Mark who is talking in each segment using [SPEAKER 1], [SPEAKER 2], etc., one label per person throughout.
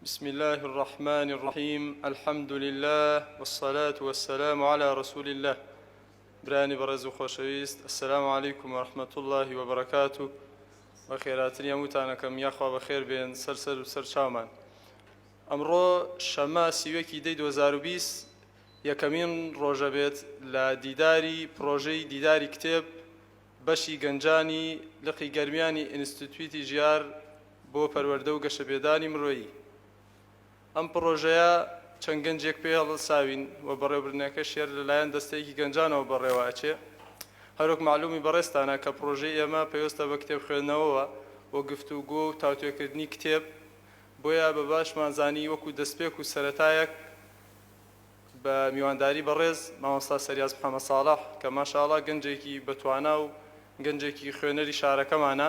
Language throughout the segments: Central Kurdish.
[SPEAKER 1] بسم الله الرحمن الرحیم الحمد لله والصلاة والسلام على رسول الله برانی بەڕێز و خۆشەویست السلام علیکم ورحمة الله وبرکاته بە خێراتری هەمووتانەکەم یاخوا بە خێر بێن سەر سەر و سەر چاومان ئەمڕۆ شەمە سیوەکی دەی 2020 یەکەمین ڕۆژە بێت لە دیداری پرۆژەی دیداری کتێب بەشی گەنجانی لقی گەرمیانی ئینستتیوتی ژیار بۆ پەروەردە و گەشەپێدانی مرۆیی ئەم پڕۆژەیە چەند گەنجێک پێ هەڵساوین و بەڕێوبردنەکەش هێر لەلایەن دەستەیەکی گەنجانەوە بەڕێوە ئەچێ هەروەک معلومی بەڕێزتانە کە پڕۆژەی ئێمە پەیوەستە بە کتێب خوێندنەوەوە و گفتوگۆ و تاوتوێکردنی کتێب بۆیە بە باشمان زانی وەکو دەستپێک و سەرەتایەک بە میوانداری بەڕێز مامۆستا سریاز محمد ساڵح کە ماشاءاللە گەنجێکی بە توانا و گەنجێکی خوێنەری شارەکەمانە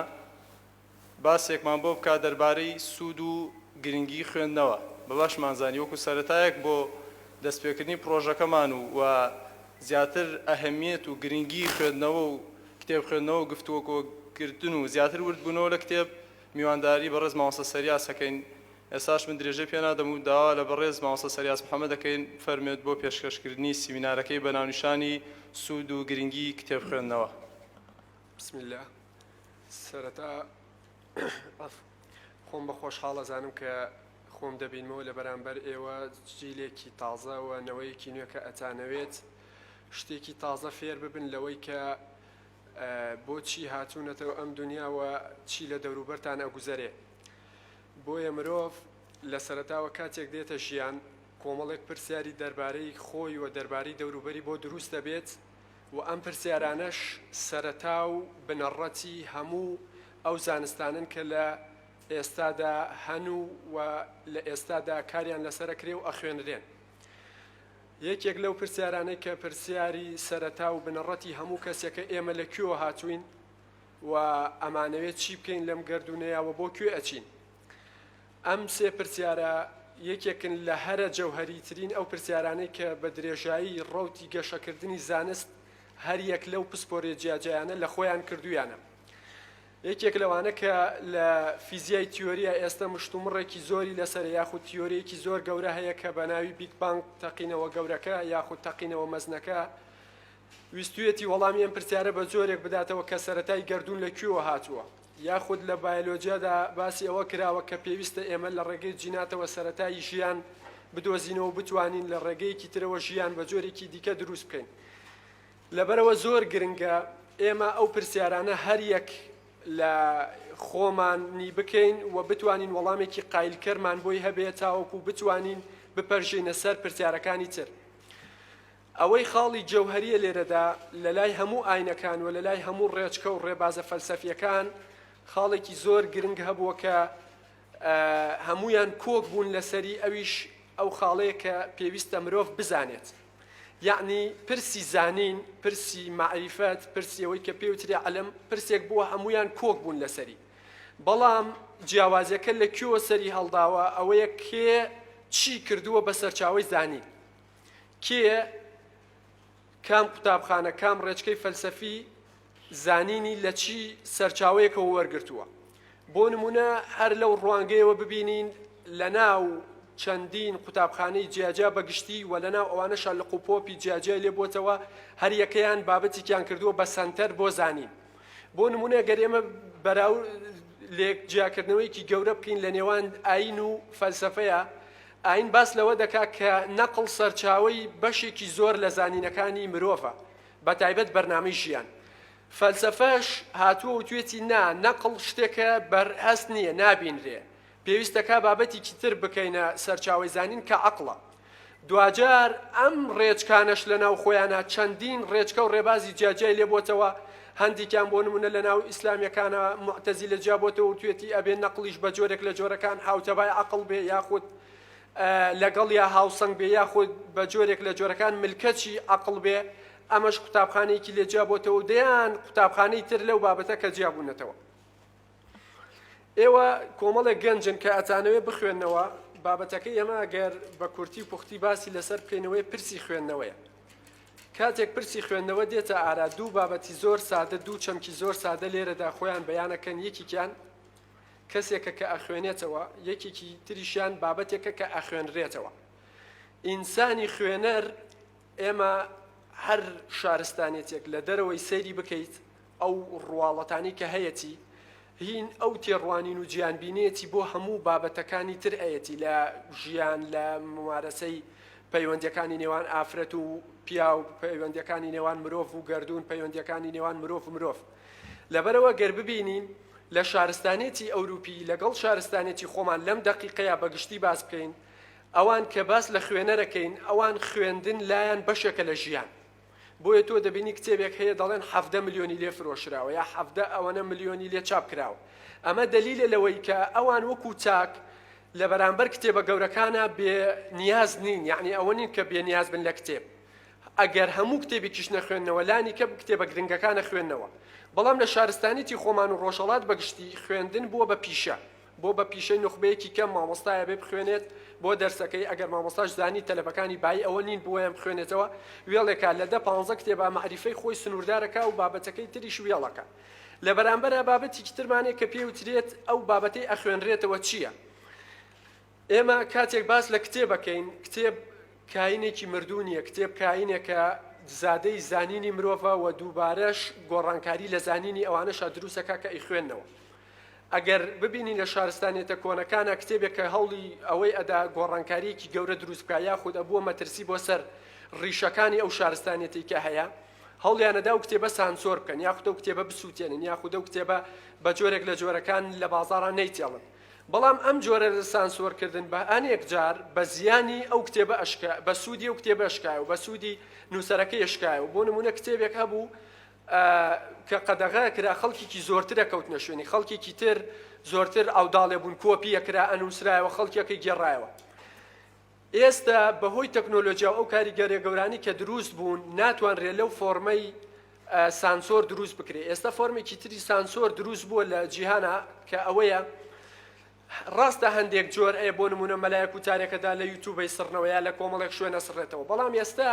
[SPEAKER 1] باسێکمان بۆ بکات دەربارەی سوود و گرنگی خوێندنەوە بە باشمان زانی وەکو سەرەتایەک بۆ دەست پێکردنی پڕۆژەکەمان و و زیاتر ئەهمیەت و گرنگی خوێندنەوە و کتێب خوێندنەوە و گفتوگۆ کردن و زیاتر ورد بوونەوە لە کتێب میوانداری بەڕێز مامۆستا سریاز ئەکەین ئێستاش من درێژەی پێ نادەم و داوا لە بەڕێز مامۆستا سەریاس محەمەد دەکەین بفەرموێت بۆ پێشکەشکردنی سیمینارەکەی بە ناونیشانی سوود و گرنگیی کتێب خوێندنەوە. بسم
[SPEAKER 2] اللە سەرەتا خۆم بە خۆشحاڵ ئەزانم کە خۆم دەبینمەوە لە بەرامبەر ئێوە جیلێکی تازە و نەوەیەکی نوێ کە ئەتانەوێت شتێکی تازە فێر ببن لەوەی کە بۆچی هاتوونەتەوە ئەم دنیاوە چی لە دەوروبەرتان ئەگوزەرێ بۆیە مرۆڤ لە سەرەتاوە کاتێک دێتە ژیان کۆمەڵێک پرسیاری دەربارەی خۆی و دەربارەی دەوروبەری بۆ دروست دەبێت و ئەم پرسیارانەش سەرەتا و بنەڕەتی هەموو ئەو زانستانەن کە لە ئێستادا هەن و لە ئێستادا کاریان لەسەر ئەکرێ و ئەخوێنرێن. یەکێک لەو پرسیارانەی کە پرسیاری سەرەتا و بنەڕەتی هەموو کەسێکە ئێمە لە کوێوە هاتووین؟ و ئەمانەوێت چی بکەین لەم گەردوونەیا و بۆ کوێ ئەچین؟ ئەم سێ پرسیارە یەکێکن لە هەرە جەوهەریترین ئەو پرسیارانەی کە بە درێژایی ڕەوتی گەشەکردنی زانست هەر یەک لەو پسپۆریە جیاجیایانە لە خۆیان کردوویانە. یەکێک لەوانە کە لە فیزیای تیۆریە ئێستە مشتومڕێکی زۆری لەسەرە یاخود تیۆریەکی زۆر گەورە هەیە کە بە ناوی بیگ بانگ تەقینەوە گەورەکە یاخود تەقینەوە مەزنەکە ویستویەتی وەڵامی ئەم پرسیارە بە جۆرێک بداتەوە کە سەرەتای گەردوون لە کوێوە هاتووە؟ یاخود لە بایەلۆجیادا باسی ئەوە کراوە کە پێویستە ئێمە لە ڕێگەی جیناتەوە سەرەتای ژیان بدۆزینەوە و بتوانین لە ڕێگەیەکی ترەوە ژیان بە جۆرێکی دیکە دروست بکەین؟ لەبەرئەوە زۆر گرنگە ئێمە ئەو پرسیارانە هەر یەک لە خۆمانی بکەین و بتوانین وەڵامێکی قایلکەرمان بۆی هەبێت تاوەکو بتوانین بپەرژێینە سەر پرسیارەکانی تر. ئەوەی خاڵی جەوهەرییە لێرەدا، لەلای هەموو ئاینەکان و لەلای هەموو ڕێچکە و ڕێبازە فەلسەفییەکان، خاڵێکی زۆر گرنگ هەبووە کە هەموویان کۆک بوون لەسەری، ئەویش ئەو خاڵەیە کە پێویستە مرۆڤ بزانێت. یەعنی پرسی زانین، پرسی مەعریفەت، پرسی ئەوەی کە پێی وترێ عیلم، پرسێک بووە هەموویان کۆک بوون لەسەری. بەڵام جیاوازییەکە لە کوێوە سەری هەڵداوە، ئەوەیە کێ چی کردووە بە سەرچاوەی زانین؟ کێیە کام قوتابخانە کام ڕێچکەی فەلسەفی زانینی لە چی سەرچاوەیەکەوە وەرگرتووە بۆ نمونە هەر لەو ڕوانگەیەوە ببینین لە ناو چەندین قوتابخانەی جیاجیا بەگشتی و لە ناو ئەوانە شارلق و پۆپی جیاجیا لێ بووتەوە هەریەکەیان بابەتێکیان کردووە بە سەنتەر بۆ زانین بۆ نمونە گەر ئێمە بەراو لێک جیاکردنەوەیکی گەورە بکەین لە نێوان ئاین و فەلسفەیە ئایین باس لەوە دەکات کە نەقڵ سەرچاوەی بەشێکی زۆر لە زانینەکانی مرۆڤە، بەتایبەت بەرنامەی ژیان. فەلسەفەش هاتووە و توێتی نا، نەقڵ شتێکە بەر هەست نییە، نابینرێ. پێویستە کا بابەتێکی تر بکەینە سەرچاوەی زانین کە عەقڵە. دواجار ئەم ڕێچکانەش لەناو خۆیانا چەندین ڕێچکە و ڕێبازی جیاجیای لێ بۆتەوە، هەندیکیان بۆ نمونە لە ناو ئیسلامیەکانا موعتەزیلە جیا بۆتەوە وتوێتی ئەبێ نەقڵیش بە جۆرێک لە جۆرەکان هاوتەبای عەقڵ بێ یاخود لەگەڵیا هاوسەنگ بێ یاخود بە جۆرێک لە جۆرەکان ملکەچی عەقڵ بێ ئەمەش قوتابخانەیەکی لێ جیا بۆتەوە و دەیان قوتابخانەی تر لەو بابەتە کە جیا بونەتەوە. ئێوە کۆمەڵێک گەنجن کە ئەتانەوێ بخوێندنەوە بابەتەکەی ئەمە گەر بە کورتی و پوختی باسی لەسەر بکەینەوەی پرسی خوێندنەوەیە کاتێک پرسی خوێندنەوە دێتە ئارا دوو بابەتی زۆر سادە دوو چەمکی زۆر سادە لێرەدا خۆیان بەیانەکەن یەکیان کەسێکە کە ئەخوێنێتەوە یەکێکی تریشیان بابەتێکە کە ئەخوێنرێتەوە ئینسانی خوێنەر ئێمە هەر شارستانێتیەک لە دەرەوەی سەیری بکەیت ئەو ڕواڵەتانەی کە هەیەتی هین ئەو تێڕوانین و جیان بینێتی بۆ هەموو بابەتەکانی تر ئەیەتی لە ژیان لە ممارەسەی پەیوەندەکانی نێوان ئافرەت و پیاو پەیوەندەکانی نێوان مرۆڤ و گردردون پەیوەندەکانی نێوان مرۆڤ مرۆڤ لەبەرەوە گەر ببینین لە شارستانێتی ئەوروپی لەگەڵ شارستانێتی خۆمان لەم دەقیقەیە بەگشتی باس بکەین ئەوان کە باس لە خوێنەرەکەین ئەوان خوێندن لایان بەشێکە لە ژیان بۆیە تۆ دەبینی کتێبێک هەیە دەڵێن حەڤدە ملیۆنی لێ فرۆشراوە یا حەڤدە ئەوەنە ملیۆنی لێ چاپ کراوە ئەمە دەلیلە لەوەی کە ئەوان وەکو چاک لە بەرامبەر کتێبە گەورەکانە بێ نیاز نین یعنی ئەوە نین کە بێ نیاز بن لە کتێب ئەگەر هەموو کتێبێکیش نەخوێندنەوە لانی کە کتێبە گرنگەکانە خوێندنەوە بەڵام لە شارستانیتی خۆمان و ڕۆژهەڵات بەگشتی خوێندن بووە بە پیشە بۆ بە پیشەی نوخبەیەکی کەم مامۆستایە بێ بخوێنێت بۆ دەرسەکەی ئەگەر مامۆستاش زانی تەلەبەکانی بایی ئەوە نین بۆیان بخوێنێتەوە وێڵێکا لە دە پانزە کتێبا مەعریفەی خۆی سنووردارەکا و بابەتەکەی تریش وێڵەکە لە بەرامبەرا بابەتیکی ترمانێ کە پێی وترێت ئەو بابەتەی ئەخوێنرێتەوە چییە ئێمە کاتێک باس لە کتێبەکەین کتێب کاینێکی مردوو نییە کتێب کاینێکە زادەی زانینی مرۆڤە و دووبارەش گۆڕانکاری لە زانینی ئەوانەشا دروستەکە کە ئەیخوێندنەوە ئەگەر ببینین لە شارستانیەتە کۆنەکانا کتێبێک کە هەوڵی ئەوەی ئەدا گۆڕانکاریەکی گەورە دروست بکا یاخود ئەبووە مەترسی بۆ سەر ڕیشەکانی ئەو شارستانیەتەی کە هەیە هەوڵیان ئەدا ئەو کتێبە سانسۆر بکەن یاخود ئەو کتێبە بسووتێنن یاخود ئەو کتێبە بە جۆرێک لە جۆرەکان لە بازاڕا نەیتێڵن بەڵام ئەم جۆرە لە سانسۆر کردن بە ئەنێک جار بە زیانی ئەو کتێبە ئەشکا بە سوودی ئەو کتێبە ئەشکایەوە بە سوودی نووسەرەکەی ئەشکایەوە بۆ نموونە کتێبێک هەبوو کە قەدەغە ئەکرا خەڵکێکی زۆرتر ئەکەوتنە شوێنی خەڵکێکی تر، زۆرتر ئاوداڵ ئەبوون، کۆپی ئەکرا، ئەنووسرایەوە، خەڵکێک ئەیگێڕایەوە. ئێستە بە هۆی تەکنۆلۆجیا و ئەو کاریگەریە گەورانەی کە درووست بوون، ناتوانرێ لەو فۆرمەی سانسۆر درووست بکرێ. ئێستە فۆرمێکی تری سانسۆر درووست بووە لە جیهانا کە ئەوەیە، ڕاستە هەندێک جۆر ەیە بۆ نمونە مەلایەک وتارێکەدا لە یوتوبەی سڕنەوە یا لە کۆمەڵێک شوێن ئەسڕێتەوە بەڵام ئێستا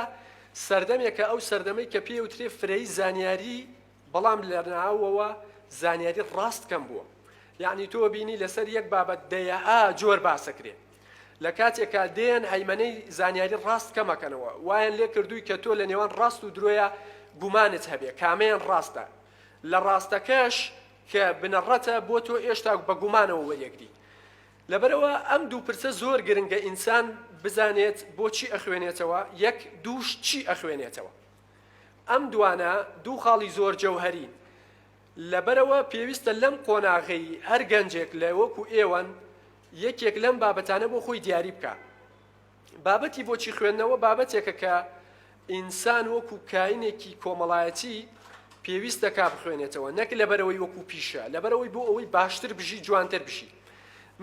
[SPEAKER 2] سەردەمێکە ئەو سەردەمەی کە پێی ئەوترێ فرەیی زانیاری بەڵام لە ناوەوە زانیاری ڕاست کەم بووە یەعنی تۆ بینی لەسەر یەک بابەت دەیەئا جۆر باسەکرێ لە کاتێکا دێن هەیمەنەی زانیاری ڕاست کەمەکەنەوە وایان لێ کردووی کە تۆ لە نێوان ڕاست و درۆیە گومانت هەبێ کامەیان ڕاستە لە ڕاستەکەش کە بنەڕەتە بۆ تۆ ئێشتا بە گومانەوە وەریەگری لەبەرئەوە ئەم دوو پرسە زۆر گرنگە ئینسان بزانێت بۆچی ئەخوێنێتەوە یەک دووش چی ئەخوێنێتەوە ئەم دوانە دوو خاڵی زۆر جەوهەرین لەبەرەوە پێویستە لەم قۆناغەی هەر گەنجێک لە وەکو ئێوەن یەکێک لەم بابەتانە بۆ خۆی دیاری بکا. بابەتی بۆچی خوێندنەوە بابەتێکە کە ئینسان وەکو کاینێکی کۆمەڵایەتی پێویست دەکا بخوێنێتەوە نەک لەبەرەوەی وەکو پیشە لەبەرەوەی بۆ ئەوەی باشتر بژی جوانتر بژی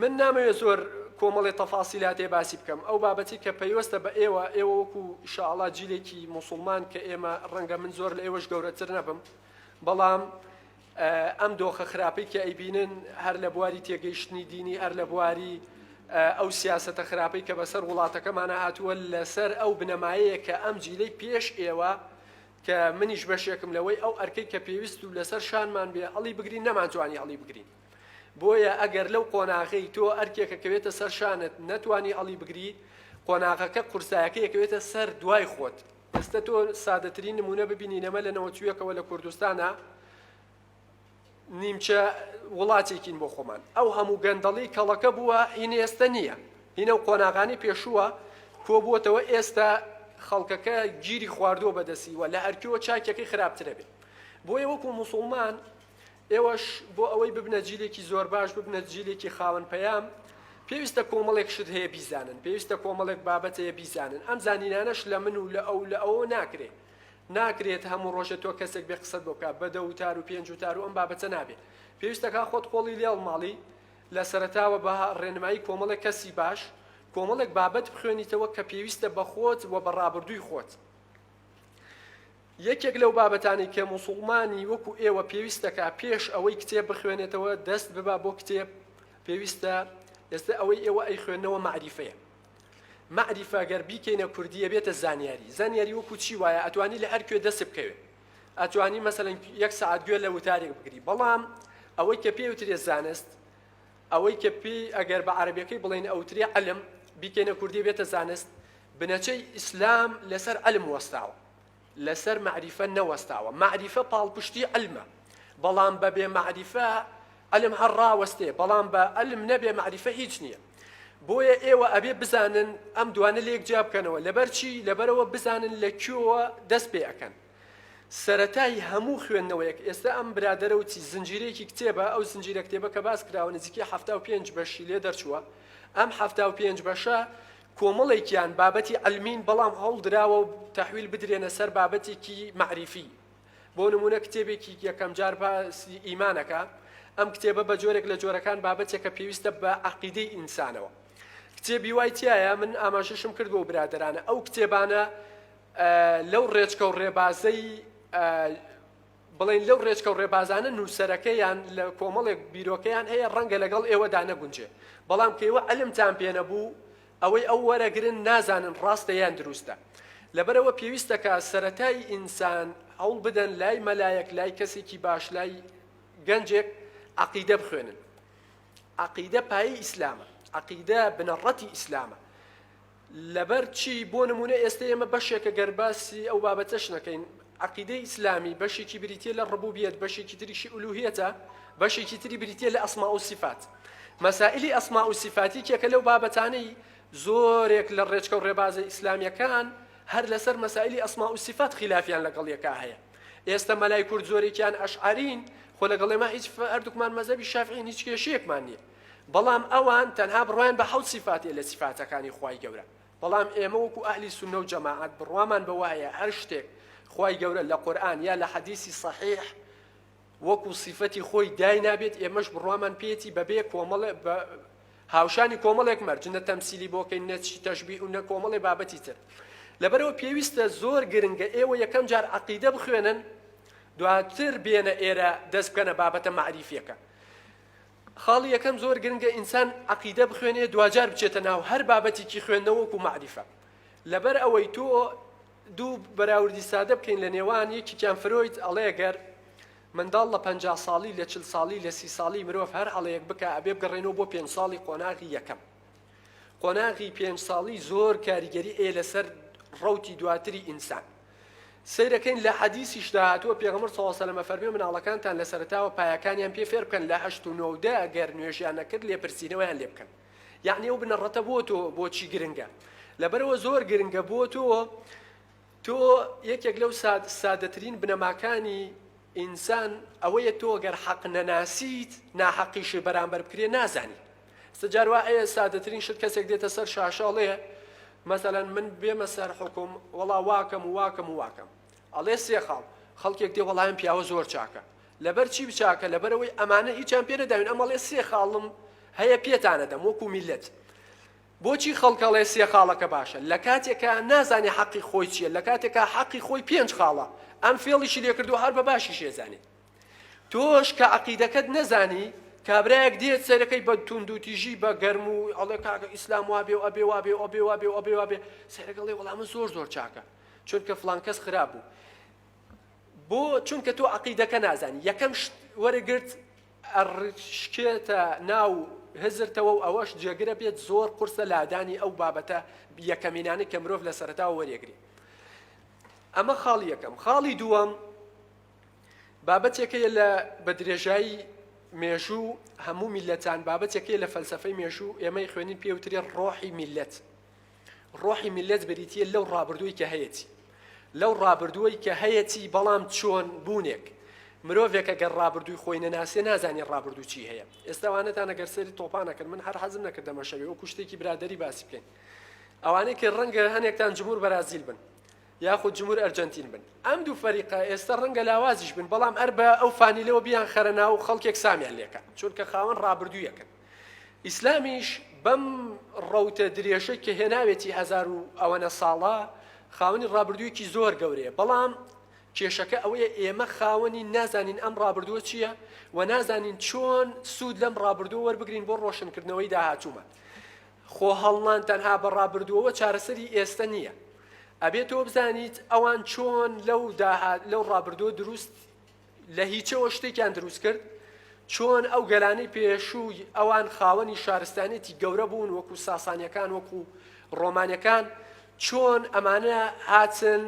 [SPEAKER 2] من نامەوێت زۆر کۆمەڵی تەفاسیلاتێ باسی بکەم ئەو بابەتی کە پەیوەستە بە ئێوە ئێوە وەکو شاڵا جیلێکی مسلمان کە ئێمە ڕەنگە من زۆر لە ئێوەش گەورەتر نەبم بەڵام ئەم دۆخە خراپەی کە ئەیبینن هەر لە بواری تێگەیشتنی دینی هەر لە بواری ئەو سیاسەتە خراپەی کە بەسەر وڵاتەکەمانە هاتووە لەسەر ئەو بنەمایەیە کە ئەم جیلەی پێش ئێوە کە منیش بەشێکم لەوەی ئەو ئەرکەی کە پێویست و لەسەر شانمان بێ هەڵی بگرین نەمانتوانی هەڵی بگرین بۆیە ئەگەر لەو قۆناغەی تۆ ئەرکێکە کەوێتە سەر شانت نەتوانی هەڵی بگری قۆناغەکە قورسایەکە یەکەوێتە سەر دوای خۆت ئێستە تۆ سادەترین نمونە ببینی ئێمە لە نەوەتویەکەوە لە کوردستانە نیمچە وڵاتێکین بۆ خۆمان ئەو هەموو گەندەڵی کەڵەکە بووە هین ئێستە نییە هینە و قۆناغانی پێشووە کۆبووتەوە ئێستا خەڵکەکە گیری خواردووە بەدەسیوە لە ئەرکیەوە چاکیەکەی خراپترە بێت بۆیە وەکو مسلمان ئێوەش بۆ ئەوەی ببنە جیلێکی زۆر باش، ببنە جیلێکی خاوەن پەیام، پێویستە کۆمەڵێک شت هەیە بیزانن، پێویستە کۆمەڵێک بابەت هەیە بیزانن، ئەم زانینانەش لە من و لە ئەو و لە ئەوەوە ناکرێ، ناکرێت هەموو ڕۆژێ تۆ کەسێک بێ قسەت بۆ بکا بە دە وتار و پێنج وتار و ئەم بابەتە نابێ، پێویستە کا خۆت قۆڵی لێ هەڵماڵی، لە سەرەتاوە بە ڕێنمایی کۆمەڵێک کەسی باش، کۆمەڵێک بابەت بخوێنیتەوە کە پێویستە بە خۆت و بە ڕابردووی خۆت. یەکێک لەو بابەتانەی کە موسوڵمانی وەکو ئێوە پێویست دەکا پێش ئەوەی کتێب بخوێنێتەوە دەست ببا بۆ کتێب پێویستە ئێستا ئەوەی ئێوە ئەی خوێندنەوە مەعریفەیە مەعریفە گەر بیکەینە کوردی ئەبێتە زانیاری زانیاری وەکو چی وایە ئەتوانی لە هەر کوێ دەست بکەوێ ئەتوانی مەسەلەن یەک سعات گوێ لە وتارێک بگری بەڵام ئەوەی کە پێی وترێ زانست ئەوەی کە پێی ئەگەر بە عربیەکەی بڵێن ئەوترێ علم بیکەینە کوردی بێتە زانست بنەچەی ئیسلام لەسەر علم وەستاوە لەسەر مەعریفە نەوەستاوە، مەعریفە پاڵپشتی عیلمە، بەڵام بە بێ مەعریفە عیلم هەر ڕاوەستێ، بەڵام بە عیلم نەبێ مەعریفە هیچ نییە. بۆیە ئێوە ئەبێ بزانن ئەم دوانە لێک جیا بکەنەوە، لەبەر چی؟ لەبەرەوە بزانن لە کوێوە دەست پێ ئەکەن. سەرەتای هەموو خوێندنەوەیەک، ئێستا ئەم برادەرە و چی، زنجیرەیەکی کتێبە، ئەو زنجیرە کتێبە کە باس کراوە نزیکەی حەفتا و پێنج بەشی لێ دەرچووە، ئەم حەفتا و پێنج بەشە کۆمەڵێکیان بابەتی عیلمین بەڵام هەوڵدراوە تەحویل بدرێنە سەر بابەتێکی مەعریفی بۆ نموونە کتێبێکی یەکەمجار باسی ئیمانەکە ئەم کتێبە بە جۆرێک لە جۆرەکان بابەتێکە پێویستە بە عقیدەی ئینسانەوە کتێبی وای تایە من ئاماژەشم کرد بۆ برادرانە ئەو کتێبانە لەو ڕێچکە و ڕێبازەی بڵێین لەو ڕێچکە و ڕێبازانە نووسەرەکەیان لە کۆمەڵێک بیرۆکەیان هەیە ڕەنگە لەگەڵ ئێوەدا نەگونجێ بەڵام کە ئێوە عەلمتان پێ نەبوو ئەوەی ئەو وەرەگرن نازانن ڕاستە یان دروستە لەبەرەوە پێویستە کە سەرەتای ئینسان هەوڵ بدەن لای مەلایەک لای کەسێکی باش لای گەنجێک عقیدە بخوێنن عقیدە پایی ئیسلامە عقیدە بنەڕەتی ئیسلامە لەبەر چی؟ بۆ نموونە ئێستە ئێمە بەشێکە گەر باسی ئەو بابەتەش نەکەین، عەقیدەی ئیسلامی بەشێکی بریتییە لە ڕبوبیەت، بەشێکی تریشی ئولوهیەتە، بەشێکی تری بریتییە لە ئەسما و سیفات. مەسائیلی ئەسما و سیفات یەکێکە لەو بابەتانەی زۆرێک لە ڕێچکە و ڕێبازە ئیسلامییەکان هەر لەسەر مەسائیلی ئەسما و سیفات خیلافیان لەگەڵ یەکا هەیە. ئێستە مەلای کورد زۆرێکیان ئەشعەرین، خۆ لەگەڵ ئێمە هیچ هەردووکمان مەزهەبی شافعین هیچ کێشەیەکمان نییە. بەڵام ئەوان تەنها بڕوایان بە حەوت سیفاتێ لە سیفاتەکانی خوای گەورە بەڵام ئێمە وەکو ئەهلی سوننە و جەماعەت بڕوامان بەوە هەیە هەر شتێک خوای گەورە لە قورئان یا لە حەدیسی صەحیح وەکو سیفەتی خۆی داینابێت ئێمەش بڕوامان پێیەتی بەبێ کۆمەڵ بە هاوشانی کۆمەڵێک مەرج نە تەمسیلی بۆکەین نە چی تەشبیه و نە کۆمەڵێ بابەتی تر لەبەرەوە پێویستە زۆر گرنگە ئێوە یەکەم جار عەقیدە بخوێنن دواتر بێنە ئێرە دەست بکەنە بابەتە مەعریفیەکە خاڵی یەکەم زۆر گرنگە ئینسان عەقیدە بخوێنێ دواجار بچێتە ناو هەر بابەتیکی خوێندنەوە وەکو مەعریفە لەبەر ئەوەی تۆ دوو بەراوردی سادە بکەین لە نێوان یەکیان فرۆید ئەڵێ گەر منداڵ لە پەنجا ساڵی لە چل ساڵی لە سی ساڵی مرۆڤ هەر هەڵەیەک بکە ئەبێ بگەڕێنەوە بۆ پێنج ساڵی قۆناغی یەکەم قۆناغی پێنج ساڵی زۆر کاریگەری ئێ لەسەر ڕوتی دواتری ئینسان سەیرەکەین لە حەدیسیشدا هاتووە پێغەمبەر صلی اللە علیە و سلم ئەفەرموێ مناڵەکانتان لە سەرەتاوە پایەکانیان پێ فێر بکەن لە هەشت و نۆ و دە گەر نوێژیان نەکرد لێپرسینەوەیان لێ بکەن یعنی ئەو بنەڕەتە بۆ تۆ بۆچی گرنگە لەبەرەوە زۆر گرنگە بۆ تۆ تۆ یەکێک لەو ساد سادەترین بنەماکانی ئینسان ئەوەیە تۆ گەر حەق نەناسیت ناحەقیشی بەرامبەر بکرێ نازانی ست جار وا ئەیە سادەترین شت کەسێک دێتە سەر شاشە ئەڵێ مەسەلەن من بێمە سەر حوکم وەڵا واکەم و واکەم و واکەم ئەڵێ سێ خاڵ خەڵکێک دێ وەڵایم پیاوە زۆر چاکە لەبەر چی بچاکە لەبەرەوەی ئەمانە هیچیان پێ نەداوین ئەمەڵێ سێ خاڵم هەیە پێتانە دەم وەکو میلەت بۆچی خەڵکەڵێ سێ خاڵەکە باشە لە کاتێکە نازانێ حەقی خۆی چییە لە کاتێکە حەقی خۆی پێنج خاڵە ئەم فێڵیشی لێکردو هەر بە باشی شێزانێت تۆش کە عەقیدەکەت نەزانی کابرایەک دێت سەیرەکەی بە توندوتیژی بە گەرم و ئەڵێ کاکە ئیسلام وابێ و ئەبێ وابێ و ئەبێ وابێ و ئەبێ وابێ سەیرەکەڵێ وەڵام من زۆر زۆر چاکە چونکە فلان کەس خراپ بوو بۆ چونکە تۆ عقیدەکە نازانی یەکەم وەرەگرت ئەڕشکێتە ناو هزرتەوە و ئەوەش جێگرە بێت زۆر قرسە لادانی ئەو بابەتە یەکەمینانی کە مرۆڤ لە سەرتاوە وەرەگری ئەمە خاڵی یەکەم خاڵی دووەم بابەتێکەیە لە بە درێژایی مێژوو هەموو میلەتان بابەتێکەیە لە فەلسەفەی مێژوو ئێمەی خوێنین پێوترێ ڕۆحی میلەت ڕۆحی میلەت بریتە لەو ڕابردووی کە هەیەی لەو ڕابردووەی کە هەیەی بەڵام چۆن بوونێک مرۆڤێکە گەر ڕابردووی خۆی نەناسێ نازانانی ڕابردوو چی هەیە ئێستاوانەتان نەگەر سەری تۆپانەکرد من هەر حەزم نەکردەمەشەوێ و کوشتێکی برادری باسی بکەین ئەوانەی کە ڕەنگە هەنێکتان جمهور بەرازیل بن یاخود جمهور ئەرجەنتین بن ئەم دوو فەریقە ئێستا ڕەنگە لاوازیش بن بەڵام هەر بە ئەو فانیلەوە بیان خەرە ناو خەڵکێک سامیان لێکە چونکە خاوەن ڕابردوویەکن ئیسلامیش بەم ڕەوتە درێژەی کە هێناوێتی هزار و ئەوەنە ساڵە خاوەنی ڕابردوویەکی زۆر گەورەیە بەڵام کێشەکە ئەوەیە ئێمە خاوەنی نازانین ئەم ڕابردووە چییە و نازانین چۆن سوود لەم ڕابردوو وەربگرین بۆ ڕۆشنکردنەوەی داهاتوومان خۆ هەڵنان تەنها بە ڕابردووەوە چارەسەری ئێستە نییە. ئەبێ تۆ بزانیت ئەوان چۆن لەو داهات لەو ڕابردووە دروست لە هیچەوە شتێکیان دروست کرد، چۆن ئەو گەلانەی پێشووی ئەوان خاوەنی شارستانیەتی گەورە بوون وەکو ساسانیەکان وەکو ڕۆمانەکان، چۆن ئەمانە هاتن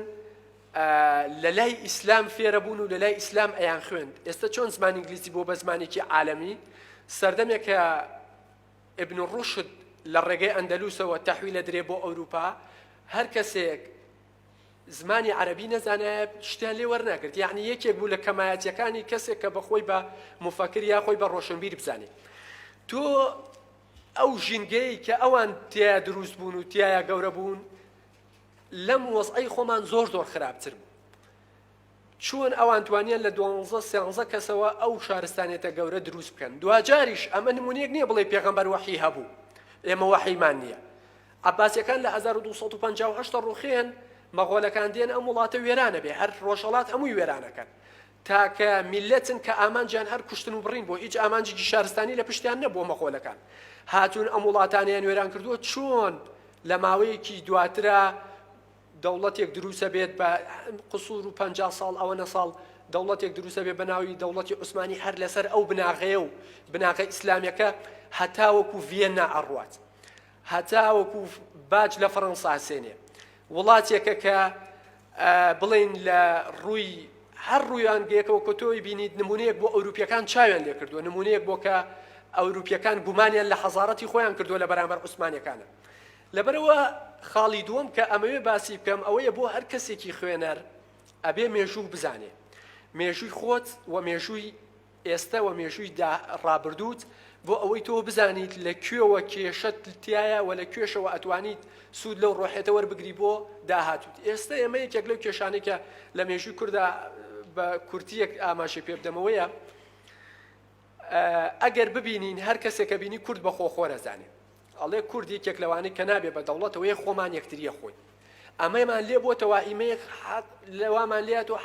[SPEAKER 2] لە لای ئیسلام فێرە بوون و لە لای ئیسلام ئەیان خوێند. ئێستە چۆن زمانی ئینگلیزی بۆ بە زمانێکی عالەمی، سەردەمێکە ابن رشد لە ڕێگەی ئەندەلوسەوە تەحویل ئەدرێ بۆ ئەوروپا هەر کەسێک زمانی عەرەبی نەزانایە شتیان لێ وەرناگرت یعنی یەکێک بوو لە کەمایەتیەکانی کەسێک کە بەخۆی بە مفەکر یا خۆی بە ڕۆشنبیر بزانێت تۆ ئەو ژینگەی کە ئەوان تیا دروست بوون و تایە گەورە بوون لەم وەزعی خۆمان زۆر زۆر خراپتر بوو چۆن ئەوان توانیان لە دوانزە سێانزە کەسەوە ئەو شارستانیەتە گەورە دروست بکەن دواجاریش ئەمە نمونەیەک نیە بڵێی پێغەمبەر وەحی هەبوو ئێمە وەحیمان نیە عەباسیەکان لە هەزار و دوو سەد و پەنجا و هەشت دەڕوخێن مەغۆلەکان دێن ئەم وڵاتە وێرانە بێ هەر ڕۆژهەڵات هەمووی وێرانەکەن تاکە میلەتن کە ئامانجیان هەر کوشتن و بڕین بۆ هیچ ئامانجێکی شارستانی لە پشتیان نەبووە مەغۆلەکان هاتوون ئەم وڵاتانیان وێران کردووە چۆن لە ماوەیەکی دواترا دەوڵەتێک دروسە بێت بە قسور و پەنجا ساڵ ئەوەنە ساڵ دەوڵەتێک دروسە بێ بەناوی دەوڵەتی عوسمانی هەر لەسەر ئەو بناغەیە و بناغە ئیسلامەکە هەتاوەکو ڤێننا ئەڕوات هەتاوەکو باج لە فەڕەنسا سێنێ وڵاتێکە کە بڵین لە ڕووی هەر ڕویان گەکەوە کە تۆی بینیت نمونەیەک بۆ ئەوروپیەکان چاویان لێ کردووە نمونەیەک بۆ کە ئەوروپیەکان گومانیان لە حەزارەتی خۆیان کردووە لە بەرامبەر عوسمانەکانە لەبەرئەوە خاڵی دووەم کە ئەمەوێ باسی بکەم ئەوەیە بۆ هەر کەسێکی خوێنەر ئەبێ مێژوو بزانێ مێژووی خۆت و مێژووی ئێستە و مێژووی دا ڕابردووت بۆ ئەوەی تۆ بزانیت لە کوێوە کێشەت تایە و لە کوێشەوە ئەتوانیت سوود لەو ڕۆحێتە وەربگری بۆ داهاتووت ئێستە ئێمە یەکێک لەو کێشانەی کە لە مێژووی کووردا بە کورتیەک ئاماژەی پێ بدەمەوەیە ئەگەر ببینین هەر کەسێکە بینی کورد بە خۆخۆرە زانێ ئەڵێ کورد یەکێک لەوانەی کە نابێ بە دەوڵەتەوە یە خۆمان یەکتریە خۆی ئەمەمان لێ بۆ تەوائیمەیە لەوامان لێت و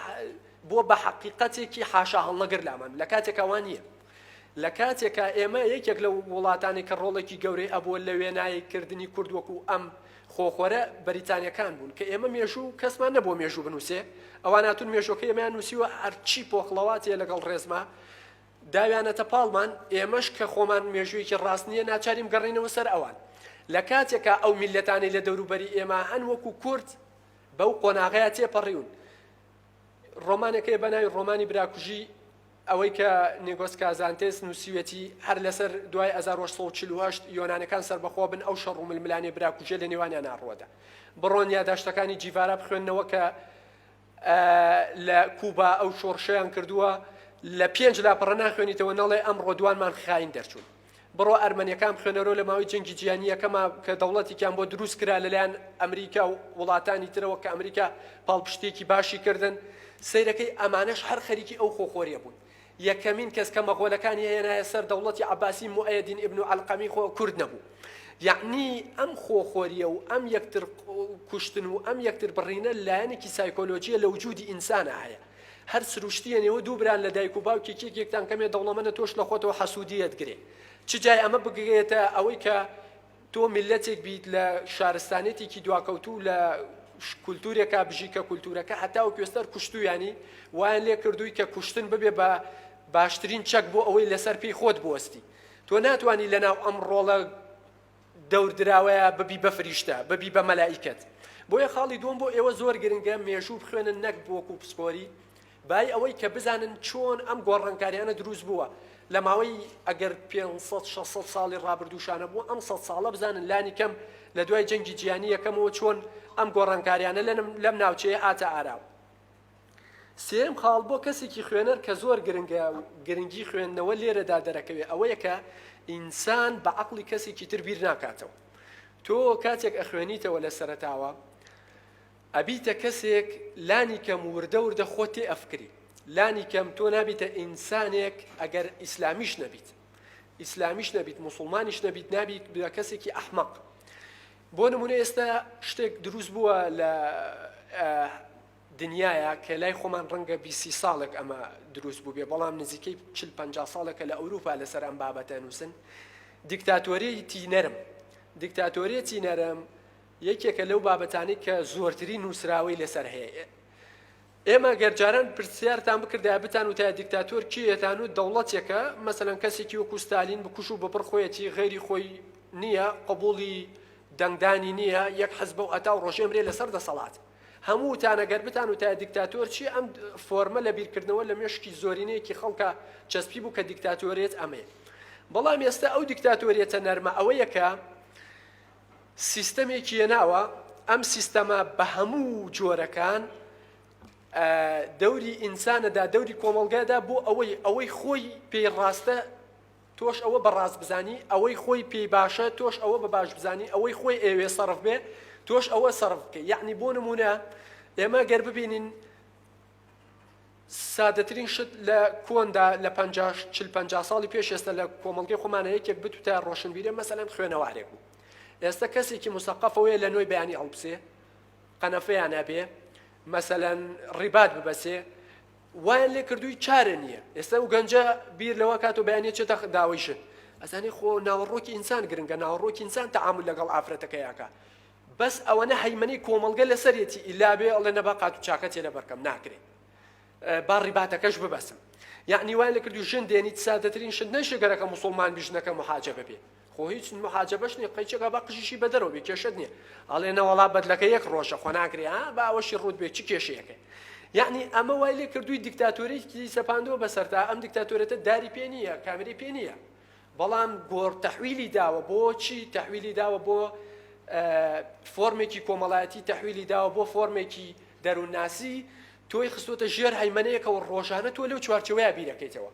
[SPEAKER 2] بۆ بە حەقیقەتێکی حاشا هەڵنەگر لامان لە کاتێکەوان نییە لە کاتێکە ئێمە یەکێک لە وڵاتانی کە ڕۆڵێکی گەورەی ئەبووە لە وێنایی کردنی کورد وەکو ئەم خۆخۆرە بەریتانیەکان بوون کە ئێمە مێژوو کەسمان نەبوو مێژوو بنووسێ ئەواناتون مێژۆکە ئێمەیان نووسیوە هەرچی پۆخڵەواتێ لەگەڵ ڕێزما داویانەتە پاڵمان، ئێمەش کە خۆمان مێژوویەکی ڕاست نییە ناچارین بگەڕێینەوە سەر ئەوان. لە کاتێکا ئەو میللەتانەی لە دەوروبەری ئێمە هەن وەکوو کورد بەو قۆناغەیا تێپەڕیون. ڕۆمانێک هەیە بە ناوی ڕۆمانی براکوژی ئەوەی کە نیگۆس کازانتێس نووسیوێتی هەر لەسەر دوای هەزار و هەشت سەد و چل و هەشت یۆنانەکان سەربەخۆ بن ئەو شەڕ و ململانێ براکوژیە لە نێوانیانا ڕووەدا. بڕۆن یاداشتەکانی جیڤارا بخوێننەوە کە، لە کوبا ئەو شۆڕشەیان کردووە لە پێنج لاپەڕە ناخوێنیتەوە نەڵێ ئەم ڕۆدوانمان خاین دەرچوون بڕۆ ئەرمەنیەکان بخوێنەرۆ لە ماوەی جەنگی جیانیەکەما کە دەوڵەتێکیان بۆ دروست کرا لەلایەن ئەمریکا و وڵاتانی ترەوە کە ئەمریکا پاڵپشتێکی باشی کردن سیرەکەی ئەمانەش هەر خەریکی ئەو خۆخۆریە بوون یەکەمین کەس کە مەغۆلەکانی هێنایە سەر دەوڵەتی عەباسی موئەیەدین ئیبن و عەلقەمی خۆ کورد نەبوو یەعنی ئەم خۆخۆریە و ئەم یەکتر کوشتن و ئەم یەکتر بڕینە لایەنێکی سایکۆلۆژیە لە وجودی ئینسانە هەیە هەر سروشتیە نێوە دوو بران لە دایک و باوکی کێکێکتان کەمێ دەوڵەمەنە تۆش لە خۆتەوە حەسوودیەت گرێ چ جای ئەمە بگرێتە ئەوەی کە تۆ میللەتێک بیت لە شارستانێتێکی دواکەوتوو و لە کولتوورێکا بژی کە کولتوورەکە هەتا و کوێستەر کوشتویانی وایان لێ کردووی کە کوشتن ببێ بە باشترین چەک بۆ ئەوەی لەسەر پێی خۆت بوەستی تۆ ناتانی لەناو ئەم ڕۆڵە دەور دراوەیە ببی بە فریشتە ببی بە مەلائیکەت بۆیە خاڵی دووەم بۆ ئێوە زۆر گرنگە مێژوو بخوێنن نەک بۆکو پسپۆری بای ئەوەی کە بزانن چۆن ئەم گۆڕانکاریانە دروست بووە لە ماوەی ئەگەر پێنج سەد شەش سەد ساڵی ڕابردووشانە بوو ئەم سەد ساڵە بزانن لانی کەم لە دوای جەنگی جیانی یەکەمەوە چۆن ئەم گۆڕانکاریانە لەم ناوچەیە هاتە ئاراوە سێم خاڵ بۆ کەسێکی خوێنەر کە زۆر گرنگە و گرنگی خوێندنەوە لێرەدا دەرەکەوێ ئەوەیە کە ئینسان بە عقلی کەسێکی تر بیر ناکاتەوە تۆ کاتێک ئەخوێنیتەوە لە سەرتاوە ئەبیتە کەسێک لانی کەم وردە وردە خۆت تێ ئەفکری لانی کەم تۆ نابیتە ئینسانێک ئەگەر ئیسلامیش نەبیت ئیسلامیش نەبیت موسڵمانیش نەبیت نابیت بە کەسێکی ئەحمەق بۆ نمونە ئێستا شتێک دروست بووە لە دنیاە کە لای خۆمان ڕەنگە بیسی ساڵێک ئەمە دروست بوو بێ بەڵام نزیکەی چل پ ساڵێکە لە ئەوروپا لەسەر ئەم بابەتە نووسن دیکتاتۆریتی نەرم دیکتاتۆریەتی نەرم یەکێکە لەو بابەتانەی کە زۆرترین نووسراوەی لەسەر هەیە. ئێمە گەر جاران پرسیارتان بکردایە بتان وتایە دیکتاتۆر کێیە تان وت دەوڵەتێکە مەسەلەن کەسێکی وەکوو ستالین بکوژ و ببڕ خۆیەتی غەیری خۆی نییە قبووڵی دەنگدانی نییە یەک حەزبە و هەتا و ڕۆژێمرێ لەسەر دەسەڵات هەموو تانە گەر بتان وتایە دیکتاتۆر چی ئەم فۆرمە لە بیرکردنەوە لە مێشکی زۆرینەیەکی خەڵکە چەسپی بوو کە دیکتاتۆرێت ئەمەیە بەڵام ئێستا ئەو دیکتاتۆریەتە نەرمە ئەوەیەکە سیستەمێکی یەناوە، ئەم سیستەمە بە هەموو جۆرەکان دەوری ئینسانەدا دەوری کۆمەڵگادا بۆ ئەوەی ئەوەی خۆی پێی ڕاستە تۆش ئەوە بە ڕاست بزانی ئەوەی خۆی پێی باشە تۆش ئەوە بە باش بزانی ئەوەی خۆی ئێوێ سەرف بێ تۆش ئەوە سەرف بکە یعنی بۆ نمونە ئێمە گەر ببینین سادەترین شت لە کۆندا لە پەنجا چل پەنجا ساڵی پێش ئێستا لە کۆمەڵگەی خۆمانە یەکێک بتوتە ڕۆشنبیرێ مەسەلەن خوێنەوارێک بوو ئێستا کەسێکی مسەقەفەوەیە لە نۆی بەیانی ئەڵپسێ قەنەفەیان نابێ مەسەلەن ڕیبات ببەسێ وایان لێ کردووی چارە نییە ئێستا و گەنجە بیر لەوە کات و بەیانە چێتە داوەیشت ئەزانی خۆ ناوەڕۆکی ئینسان گرنگە ناوەڕۆکی ئینسان تەعامل لەگەڵ ئافرەتەکەیەکە بەس ئەوەنە هەیمەنەی کۆمەڵگە لەسەرێتی ئیلا بێ ئەڵێ نەبا قاتو چاکە تێ لەبەرکەم ناکرێ با ڕیباتەکەش ببەسم یعنی وای لەکردو ژن دێنیت سادەترین شت نەشێ گەرەکە مسلمان بی ژنەکە محاجەبە بێ خۆ هیچ محاجەبەش نیە قەیچەکە بە قژیشی بەدەرەوە بێ کێشت نیە ئەڵێ نەوەڵا بەدلەکە یەک ڕۆژە خۆ ناکرێ ها با ئەوەشی ڕوت بێ چ کێشەیەکە یعنی ئەمە وای لێ کردووی دیکتاتۆرێکی سەپاندەوە بەسەرتا ئەم دیکتاتۆرێتە داری پێ نییە کامری پێ نییە بەڵام گۆڕ تەحویلی داوە بۆ چی تەحویلی داوە بۆ فۆرمێکی کۆمەڵایەتی تەحویلی داوە بۆ فۆرمێکی دەروونناسی تۆی خستۆتە ژێر هەیمەنەیەکەوە ڕۆژانە تۆ لەو چوارچەوەیە بیرەکەیتەوە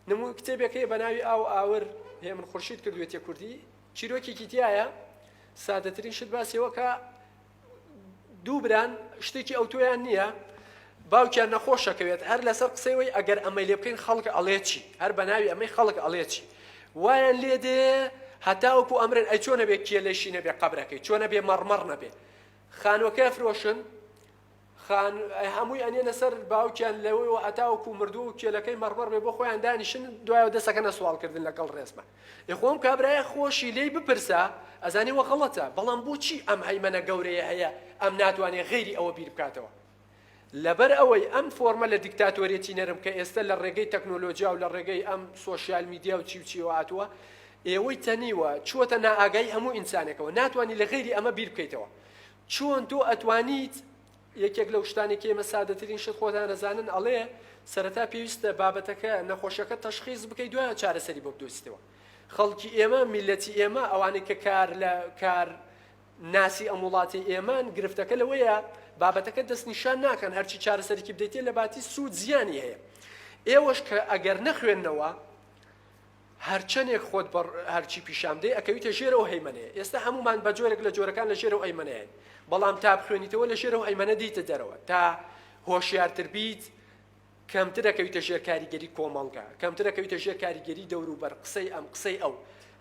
[SPEAKER 2] نمو کتێبێکی بە ناوی ئاو ئاور هەیە من خورشید کردوێتە کوردی چیرۆکێکی تایە سادەترین شت باسیەوە کە دوو بران شتێکی ئەوتۆیان نییە باوکیان نەخۆشەکەوێت هەر لەسەر قسەی وی ئەگەر ئەمەی لێ بکەین خەڵک ئەڵێ چی هەر بە ناوی ئەمەی خەڵک ئەڵێ چی وایان لێ دێ هەتاوەکو ئەمرن ئەی چۆنە بێ کێلەشی نەبێ قبرەکەی چۆنە بێ مەڕمەڕ نەبێ خانوەکە فرۆشن خان هەمووی ئەنێنە سەر باوکیان لەوەوە هەتاوەکو مردوو و کێلەکەی مەڕمەڕ بێ بۆ خۆیان دانیشن دوایەوە دەسەکەنە سواڵکردن لەگەڵ ڕێزما یخۆم کابرایە خۆشی لێی بپرسە ئەزانی وە غەڵەتە بەڵام بۆچی ئەم هەیمەنە گەورەیە هەیە ئەم ناتوانێ غەیری ئەوە بیر بکاتەوە لەبەر ئەوەی ئەم فۆرمە لە دیکتاتۆرێتی نەرم کە ئێستا لە ڕێگەی تەکنۆلۆژیا و لە ڕێگەی ئەم سۆشیال میدیا و چی و چیوە هاتووە ئێوەی تەنیوە چووەتە نائاگایی هەموو ئینسانێکەوە ناتوانانی لە غەیری ئەمە بیر بکەیتەوە چۆن تۆ ئەتوانیت یەکێک لەو شتانەی کە ئێمە سادەترین شت خۆتان ئەزانن ئەڵێ سەرەتا پێویستە بابەتەکە نەخۆشەکە تەشخیص بکەیت دوایە چارەسەری بۆ بدۆزیتەوە خەڵکی ئێمە میلەتی ئێمە ئەوانەی کە کار لە کار ناسی ئەم وڵاتی ئێمان گرفتەکە لەوەیە بابەتەکە دەستنیشان ناکەن هەرچی چارەسەرکی بدەیتێ لە باتی سوود زیانی هەیە ئێوەش کە ئەگەر نەخوێندنەوە هەرچەنێک خۆت بە هەرچی پیشان بدەی ئەکەویتە ژێر ئەو هەیمەنەیە، ئێستا هەموومان بە جۆرێک لە جۆرەکان لە ژێر ئەو ئەیمەنەیەن، بەڵام تا بخوێنیتەوە لە ژێر ئەو ئەیمەنە دێیتە دەرەوە، تا هۆشیارتر بیت کەمتر ئەکەویتە ژێر کاریگەری کۆمەڵگا، کەمتر ئەکەویتە ژێر کاریگەری دەوروبەر، قسەی ئەم، قسەی ئەو.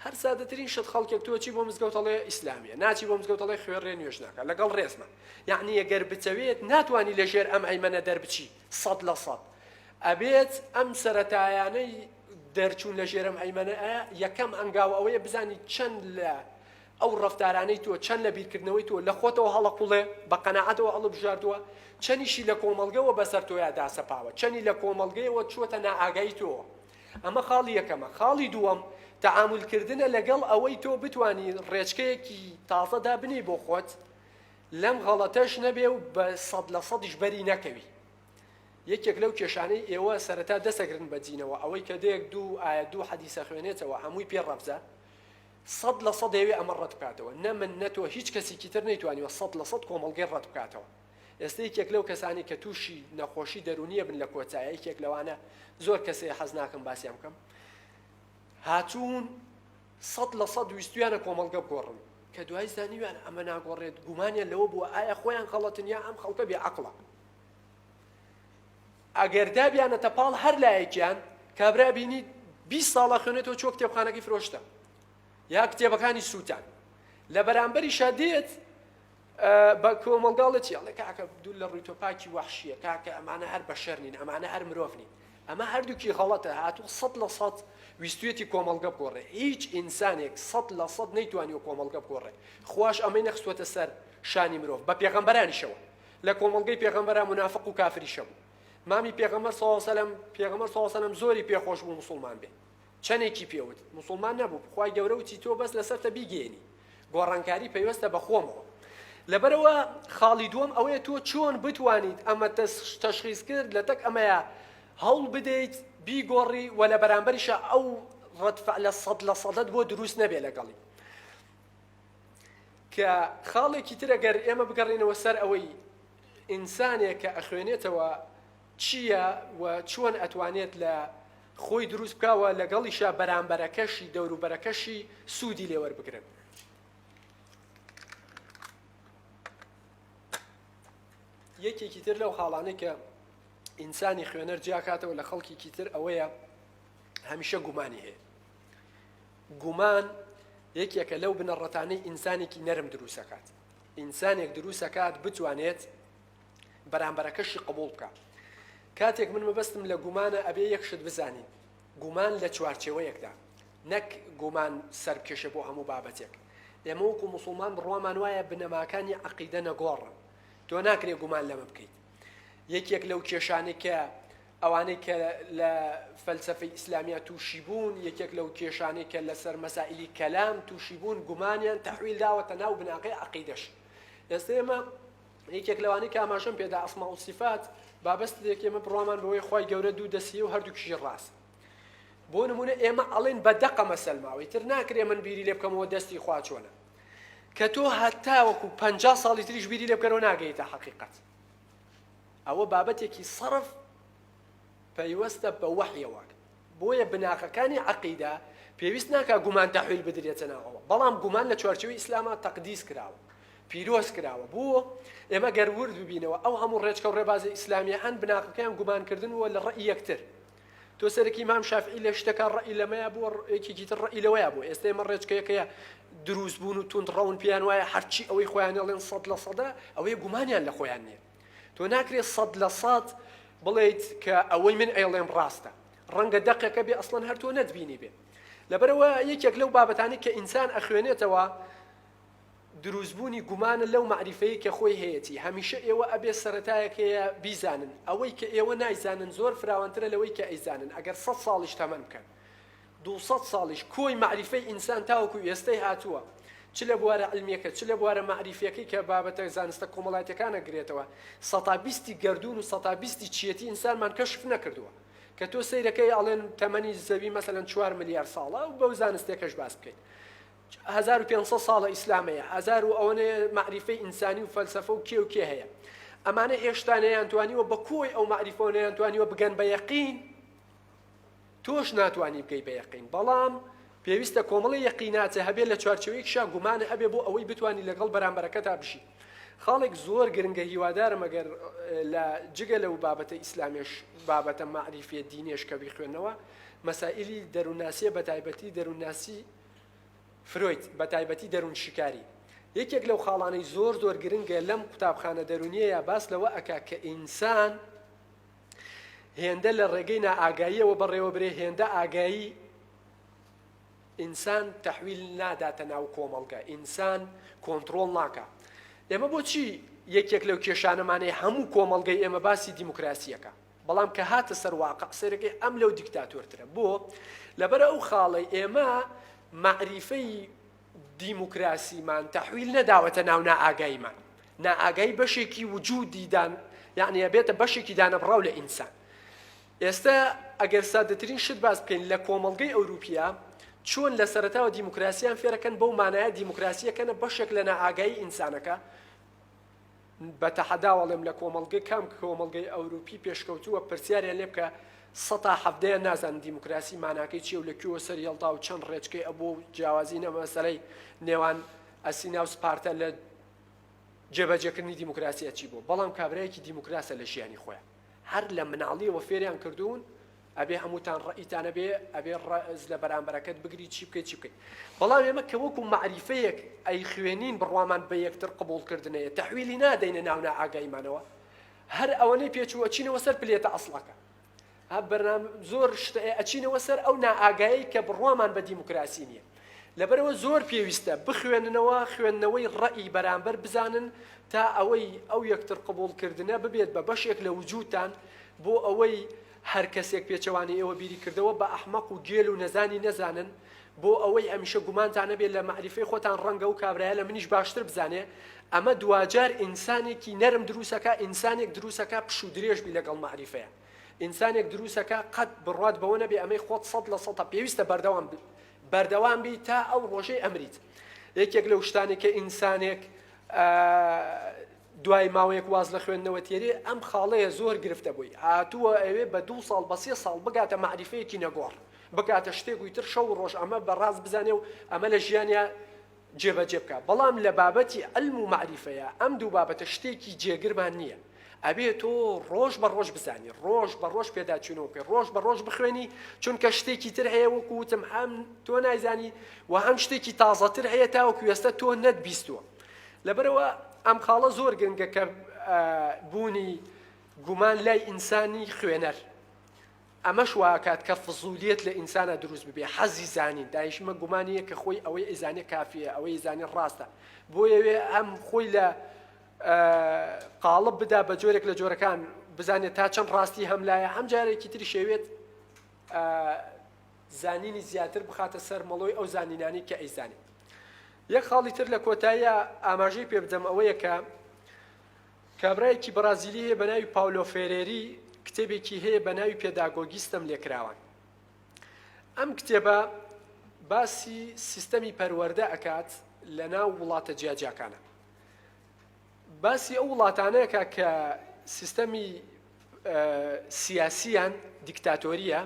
[SPEAKER 2] هەر سادەترین شت خەڵکێک تۆ چی بۆ مزگەوت ئەڵێ ئیسلامییە، ناچی بۆ مزگەوت ئەڵێ خوێڕییە نوێژ ناکات، لەگەڵ ڕێزما. یەعنی گەر بتەوێت ناتوانی لە ژێر ئەم ئەیمەنە دەربچیت. سەد لە سەد ئەبێت ئەم سەرەتایانەی دەرچوون لە ژێرم هەیمەنەئ یەکەم هەنگاو ئەوەیە بزانی چەند لە ئەو ڕەفتارانەی تۆ چەند لە بیرکردنەوەی تۆ لە خۆتەوە هەڵەقوڵێ بە قەناعەتەوە هەڵبژاردووە چەنیشی لە کۆمەڵگەوە بەسەر تۆیا داسەپاوە چەنی لە کۆمەڵگەیەوە چووەتە نائاگایی تۆوە ئەمە خاڵی یەکەمە خاڵی دووەم تەعامولکردنە لەگەڵ ئەوەی تۆ بتانی ڕێچکەیەکی تازە دابنێی بۆ خۆت لەم غەڵەتەش نەبێ و بە سەد لە سەدیش بەری نەکەوی. یەکێک لەو کێشانەی ئێوە سەرەتا دەسەگرن بە دینەوە ئەوەی کە دێک دوو ئایەت دوو حەدیس ئەخوێنێتەوە هەمووی پێ ڕەفزە، سەد لە سەد دەیەوێ ئەمە ڕەت بکاتەوە. نە من نە تۆ هیچ کەسیکی تر نەیتوانیوە سەد لە سەد کۆمەڵگەی ڕەت بکاتەوە. ئێستە یەکێک لەو کەسانەی کە تووشی نەخۆشی دەروونییە بن لە کۆتایە یەکێک لەوانە زۆر کەسێ حەز ناکەم باسیان بکەم هاتوون، سەد لە سەد ویستویانە کۆمەڵگە بگۆڕن، کە دوای زانیویان ئەمە ناگۆڕێت، گومانیان لەوە بووە ئایا خۆیان غەڵەتن یا ئەم خەڵکە بێ عەقڵە. ئەگەر دابیانەتە پاڵ هەر لایەکیان، کابرا بینی بیست ساڵ ئەخوێنێتەوە چووە کتێبخانەکەی فرۆشتە، یا کتێبەکانی سووتان. لە بەرامبەریشا دێت بە کۆمەڵگا ڵێ چی ئەڵێ کاکە دوور لە ڕووی تۆ پاکی وەحشیە کاکە ئەمانە هەر بەشەر نین ئەمانە هەر مرۆڤ نین ئەمە هەردووکی غەڵەتە هاتوو سەد لە سەد ویستویەتی کۆمەڵگە بگۆڕێ هیچ ئینسانێک سەد لە سەد نەیتوانیوە کۆمەڵگە بگۆڕێ خواش ئەمەی نەخستوەتە سەر شانی مرۆڤ بە پێغەمبەرانیشەوە لە کۆمەڵگەی پێغەمبەران منافق و کافریش هەبوو مامی پێغەمبەر سەڵاو سەلەم پێغەمبەر سەڵاو سەلەم زۆری پێخۆش بوو موسڵمان بێ چەنێکی پێوت موسڵمان نەبوو خوای گەورە وتی تۆ بەس لەسەرتە بیگەیەنی گۆڕانکاری پەیوەستە بە خۆمەوە لەبەرەوە خاڵی دووەم ئەوەیە تۆ چۆن بتوانیت ئەمە تەشخیز کرد لە تەک ئەمەیە هەوڵ بدەیت بیگۆڕی و لە بەرامبەریشە ئەو ڕەتفع لە سەد لە سەدەت بۆ دروست نەبێ لەگەڵی کە خاڵێکی ترەگەر ئێمە بگەڕینەوە سەر ئەوەی ئینسانێک کە ئەخوێنێتەوە چییە و چۆن ئەتوانێت لە خۆی دروست بکا و لەگەڵیشا بەرامبەرەکەشی، دەوروبەرەکەشی سوودی لێ وەربگرن. یەکێکی تر لەو خاڵانەی کە ئینسانی خوێنەر جیاکاتەوە لە خەڵکیکی تر ئەوەیە هەمیشە گومانی هەیە. گومان یەکێکە لەو بنەڕەتانەی ئینسانێکی نەرم دروسەکات. ئینسانێک دروسەکات بتوانێت بەرامبەرەکەشی قبوڵ بکا کاتێک من مەبەستم لە گومانە ئەبێ یەک شت بزانین گومان لە چوارچێوەیەکدا نەک گومان سەرکێشە بۆ هەموو بابەتێک ئێمە وەکو مسلمان بڕوامان وایە بنەماکانی عقیدە نەگۆڕن تۆ ناکرێ گومان لەمە بکەیت یەکێک لەو کێشانەی کە ئەوانەی کە لە فەلسفەی ئیسلامیا تووشی بوون یەکێک لەو کێشانەی کە لەسەر مەسائلی کەلام تووشی بوون گومانیان تحویل داوەتە ناو بناغی عقیدەش ئێستا ئێمە یەکێک لەوانەی کە ئاماژەم پێدا ئەسماء و صفات بابەست دێک ئێمە بڕوامان بەوەی خوای گەورە دوو دەسیە و هەردووکیشی ڕاست بۆ نمونە ئێمە ئەڵێن بە دەقە مەسەلماوەی تر ناکرێ من بیری لێ بکەمەوە دەستی خوا چۆنە کە تۆ هەتا وەکو پ ساڵی تریش بیری لێ بکەرەوە ناگەیتە حقیقت ئەوە بابەتێکی سەرف پەیوەستە بە وەحیەوە بۆیە بناغەکانی عەقیدە پێویست ناکا گومان تەحویل بدرێتە ناوەوە، بەڵام گومان لە چوارچێوەی ئیسلاما تەقدیس کراوە، پیرۆز کراوە، بۆ؟ ئێمە گەر ورد ببینەوە ئەو هەموو ڕێچکەو ڕێبازە ئیسلامیە هەن بناغەکەیان گومان کردن بووە لە ڕەئی یەکتر، تۆ سەرەکی مام شافعی لە شتەکا ڕەئی لەمەیا بووە ڕێکێکی تر ڕەئی لەوەیا بووە، ئێستا ئێمە ڕێچکەیەکەیە دروست بوون و توند ڕەون پێیان وایە هەرچی ئەوەی خۆیان ئەڵێن سەد لە سەدە، ئەوەیە گومانیان لە خۆیان نیە. تۆ ناکرێت سەد لە سەد بڵێیت کە ئەوەی من ئەیڵێم ڕاستە ڕەنگە دەقێکە بێ ئەسڵەن هەر تۆ نەتبینی بێ لەبەرەوە یەکێک لەو بابەتانی کە ئینسان ئەخوێنێتەوە دروستبوونی گومانە لەو معریفەیە کە خۆی هەیەتی هەمیشە ئێوە ئەبێ سەرەتایەک هەیە بیزانن ئەوەی کە ئێوە نایزانن زۆر فراوانترە لەوەی کە ئەیزانن ئەگەر سە ساڵیش تەمەن بکەن دوو سەد ساڵیش کۆی مەعریفەی ئینسان تاوەکو ئێستەی هاتووە، چ لە بوارە عیلمییەکە، چ لە بوارە مەعریفییەکەی کە بابەتە زانستە کۆمەڵایەتییەکان ئەگرێتەوە، سەتا بیستی گەردوون و سەتا بیستی چییەتی ئینسانمان کەشف نەکردووە. کە تۆ سەیرەکەی ئەڵێن تەمەنی زەوی مەسەلەن چوار ملیار ساڵە و بەو زانستێکەش باس بکەیت هەزار و پێنج سەد ساڵە ئیسلام هەیە، هەزار و ئەوەنێ مەعریفەی ئینسانی و فەلسەفە و کێ و کێ هەیە. ئەمانە هێشتا نەیانتوانیوە بە کۆی ئەو مەعریفەوە نەیانتوانیوە بگەن بە یەقین. تۆش ناتوانی بگەی بە یەقین بەڵام پێویستە کۆمەڵی یەقیناتێ هەبێ لە چوارچەوەی کشا گومانە ئەبێ بۆ ئەوەی بتانی لەگەڵ بەرامبەرەکە تا بژی خاڵێک زۆر گرنگە هیوادارم ئەگەر لە جگە لەو بابەتە ئیسلامێش بابەتە معریفە دینێش کە بیخوێنەوە مەسائللی دەروونناسیە بە تایبەتی دەروونناسی فرۆیت بە تایبەتی دەروون شکاری یەکێک لەو خاڵانەی زۆر زۆر گرنگە لەم قوتابخانە دەرونیە یا باس لەوە ئەک کە ئینسان هێندە لە ڕێگەی نائاگاییەوە بەڕێوە برێ هێندە ئاگایی ئینسان تحویل ناداتە ناو کۆمەڵگە ئینسان کۆنتترۆل ناکە ئێمە بۆچی یەکێک لەو کێشانەمانەی هەموو کۆمەڵگەی ئێمە باسی دیموکراسیەکە بەڵام کە هاتە سەرواقع سەرەکەی ئەم لەو دیکتاتۆرترە بۆ لەبەر ئەو خاڵی ئێمە معریفەی دیموکراسیمان تەحویل نەداوەتە ناو نائاگاییمان. نائاگایی بەشێکی وجودی دان یعنی ئەبێتە بەشێکی دانەبڕاو لە ئینسان. ئێستا ئەگەر سادەترین شت باس بکەین لە کۆمەڵگەی ئەوروپیا چۆن لە سەرەتاوە دیموکراسیان فێرەکەن بەو مانایە دیموکراسیەکەنە بەشێک لە نائاگایی ئینسانەکە بە تەحەداو ئەڵێم لە کۆمەڵگە کام کۆمەڵگەی ئەوروپی پێشکەوتووە پرسیاریان لێ بکە سەتا حەڤدەیان نازانن دیموکراسی ماناکەی چیە و لە کوێوە سەر یەڵدا و چەند ڕێچکەی ئەبۆ و جیاوازی نە مەسەلەی نێوان ئەسینا و سپارتە لە جێبەجێکردنی دیموکراسی ئەچی بۆ بەڵام کابرایەکی دیموکراسە لە ژیانی خۆیان هەر لە مناڵیەوە فێریان کردوون ئەبێ هەمووتان ڕەئیتان هەبێ ئەبێ ڕەز لە بەرامبەرەکەت بگری چی بکەی چی بکەی بەڵام ئێمە کە وەکو مەعریفەیەک ئەیخوێنین بڕوامان بە یەکتر قبوڵ کردنەیە تەحویلی نادەینە ناو نائاگایمانەوە هەر ئەوەنەی پێچوو ئەچینەوە سەر پلێتە ئەسڵەکە ها بەرنام زۆر شتە ئەچینەوە سەر ئەو نائاگایی کە بڕوامان بە دیموکراسی نییە لەبەرەوە زۆر پێویستە بخوێننەوە خوێندنەوەی ڕەئی بەرامبەر بزانن تا ئەوەی ئەو یەکتر قبول کردنە ببێت بە بەشێک لە وجودتان بۆ ئەوەی هەر کەسێک پێچەوانەی ئێوە بیری کردەوە بە ئەحمەق و گێل و نەزانی نەزانن بۆ ئەوەی ئەمیشە گومانتان نەبێ لە مەعریفەی خۆتان ڕەنگە ئەو کابرایە لە منیش باشتر بزانێ ئەمە دواجار ئینسانێکی نەرم دروست ئەکا ئینسانێک دروست ئەکا پشوو درێژ بی لەگەڵ مەعریفەیا ئینسانێک دروست ئەکا قەت بڕوات بەوە نەبێ ئەمەی خۆت سەد لە سەدە پێویستە بەردەوام بی بەردەوام بی تا ئەو ڕۆژەی ئەمریت یەکێک لەو شتانێک کە ئینسانێک دوای ماوەیەک واز لە خوێندنەوە تێری ئەم خاڵەیە زۆر گرفتە بۆی، هاتووە ئەوێ بە دوو ساڵ بە سێ ساڵ بگاتە مەعریفەیەکی نەگۆڕ، بگاتە شتێک و ئیتر شەو و ڕۆژ ئەمە بە ڕاست بزانێ و ئەمە لە ژیانیا جێبەجێ بکا، بەڵام لە بابەتی عیلم و مەعریفەیا ئەم دوو بابەتە شتێکی جێگرمان نییە، ئەبێ تۆ ڕۆژ بە ڕۆژ بزانی، ڕۆژ بە ڕۆژ پێداچوونەوە بکەی، ڕۆژ بە ڕۆژ بخوێنی، چونکە شتێکی تر هەیە وەکو وتم هەم تۆ نایزانی و هەم شتێکی تازەتر هەیە تاوەکو ئێستا تۆ نەتبیستووە. لەبەرئەوە ئەم خاڵە زۆر گرنگە کە بوونی گومان لای ئینسانی خوێنەر ئەمەش واکات کە فزولیت لە ئینسانە دروست ببێ حەزی زانین دایشمە گومانیە کە خۆی ئەوەی ئیزانێ کافیە ئەوەی زانێ ڕاستە بۆ یەوێ ئەم خۆی لە قاڵب بدا بە جۆرێک لە جۆرەکان بزانێت تا چەند ڕاستی هەم لایە هەم جارێکی تری شێوێت زانینی زیاتر بخاتە سەر مەڵۆی ئەو زانینانی کە ئەیزانێت یەک خاڵی تر لە کۆتایی ئاماژەی پێ بدەم ئەوەیە کە کابرایەکی بەڕازیلی هەیە بە ناوی پاولۆ فێرێری کتێبێکی هەیە بە ناوی پێداگۆگی ستەم لێکراوان ئەم کتێبە باسی سیستەمی پەروەەردە ئەکات لە ناو وڵاتە جیاجیاکانە باسی ئەو وڵاتانەکە کە سیستەمی سیاسیان دیکتاتۆریە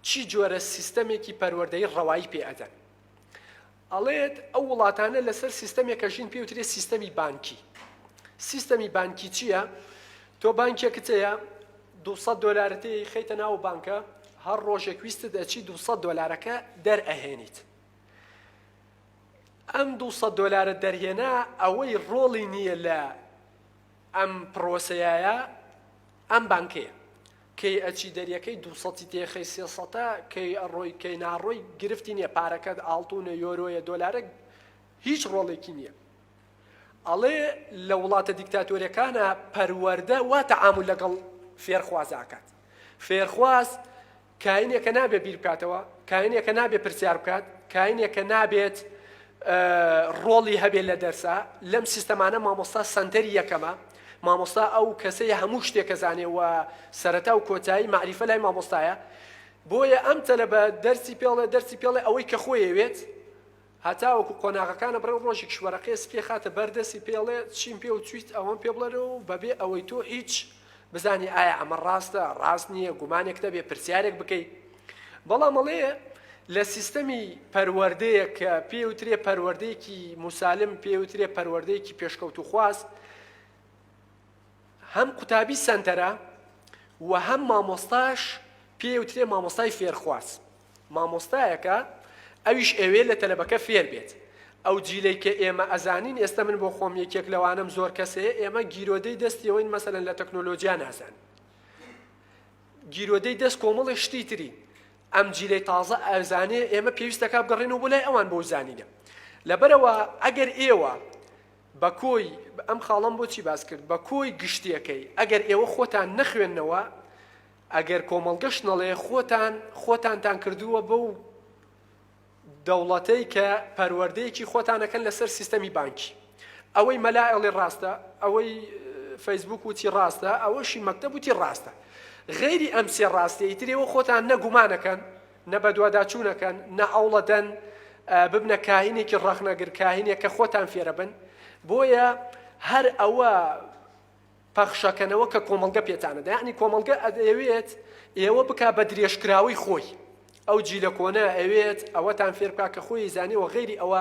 [SPEAKER 2] چی جۆرە سیستەمێکی پەروەردەی ڕەوایی پێ ئەدەن ئەڵێت ئەو وڵاتانە لەسەر سیستەمێک ئەژین پێی وترێت سیستەمی بانکی سیستەمی بانکی چییە تۆ بانکێکت هەیە دوو سەد دۆلارت هەیە ئەیخەیتە ناو بانکە هەر ڕۆژێک ویستت ئەچی دوو سەد دۆلارەکە دەرئەهێنیت ئەم دوو سەد دۆلارە دەرهێنا ئەوەی ڕۆڵی نییە لە ئەم پڕۆسەیە ئەم بانکەیە کەی ئەچی دەریەکەی دوو سەتی تێخەی سێ سەتە کەی ئەڕۆی کەی ناڕۆی گرفتی نییە پارەکەت ئاڵتونە یۆرۆیە دۆلارە هیچ ڕۆڵێکی نییە ئەڵێ لە وڵاتە دیکتاتۆرەکانە پەروەەردە وا تەعامل لەگەڵ فێرخوازاکات فێرخواز کاینێک کە نابێت بیر بکاتەوە، کاینێک کە نابێت پرسیار بکات، کاینێک کە نابێت ڕۆڵی هەبێت لە دەرسا، لەم سیستەمانە مامۆستا سەنتەری یەکەمە، مامۆستا ئەو کەسەیە هەموو شتێک ئەزانێت و سەرەتا و کۆتایی مەعریفە لای مامۆستایە، بۆیە ئەم تەلەبە دەرسی پێڵێ دەرسی پێڵێ ئەوەی کە خۆی ئەوێت، هەتاوەکو قۆناغەکانە بڕێ ڕۆژێکیش وەرەقەیە سپیە خاتە بەر دەستی پێڵێ چیم پێ وتویت ئەوەم پێ بڵێرێ و بەبێ ئەوەی تۆ هیچ بزانی ئایا ئەمە ڕاستە ڕاست نیە گومانێک نەبێ پرسیارێک بکەی بەڵام ئەڵێ لە سیستەمی پەروەردەیەک کە پێ وترێ پەروەردەیەکی موسالم پێ وترێ پەروەردەیەکی پێشکەوتوخواز هەم قوتابی سەنتەرە و هەم مامۆستاش پێی وترێ مامۆستای فێرخواز مامۆستایەکە ئەویش ئەوێ لە تەلەبەکە فێر بێت ئەو جیلەی کە ئێمە ئەزانین ئێستا من بۆ خۆم یەکێک لەوانم زۆر کەسەیە ئێمە گیرۆدەی دەستیەوەین مەسەن لە تەکنۆلۆژیا نازان گیرۆدەی دەست کۆمەڵی شتی تری ئەم جیلەی تازە ئەزانێ ئێمە پێویستەکە بگەڕێن و بۆ لای ئەوان بۆ زانینە لەبەرەوە ئەگەر ئێوە بە کۆی، ئەم خاڵەم بۆ چی باس کرد، بە کۆی گشتیەکەی ئەگەر ئێوە خۆتان نەخوێننەوە، ئەگەر کۆمەڵگەش نەڵێ، خۆتان خۆتانتان کردووە بەو دەوڵەتەی کە پەروەردەیەکی خۆتان ئەکەن لەسەر سیستەمی بانکی. ئەوەی مەلا ئەڵێ ڕاستە، ئەوەی فەیسبووک وتی ڕاستە، ئەوەشی مەکتەب وتی ڕاستە. غەیری ئەم سێ ڕاستیەی تر ئێوە خۆتان نە گومان ئەکەن، نە بەدواداچوون ئەکەن، نە هەوڵ ئەدەن ببنە کاهینێکی ڕەخنەگر، کاهینێک کە خۆتان فێرەبن، بۆیە هەر ئەوە پەخشەکەنەوە کە کۆمەڵگە پێتان ئەدا، یەعنی کۆمەڵگە ئەیەوێت ئێوە بکا بە درێژکراوەی خۆی، ئەو جیلە کۆنە ئەوێت ئەوەتان فێر بکا کە خۆی ئەیزانێ و غەیری ئەوە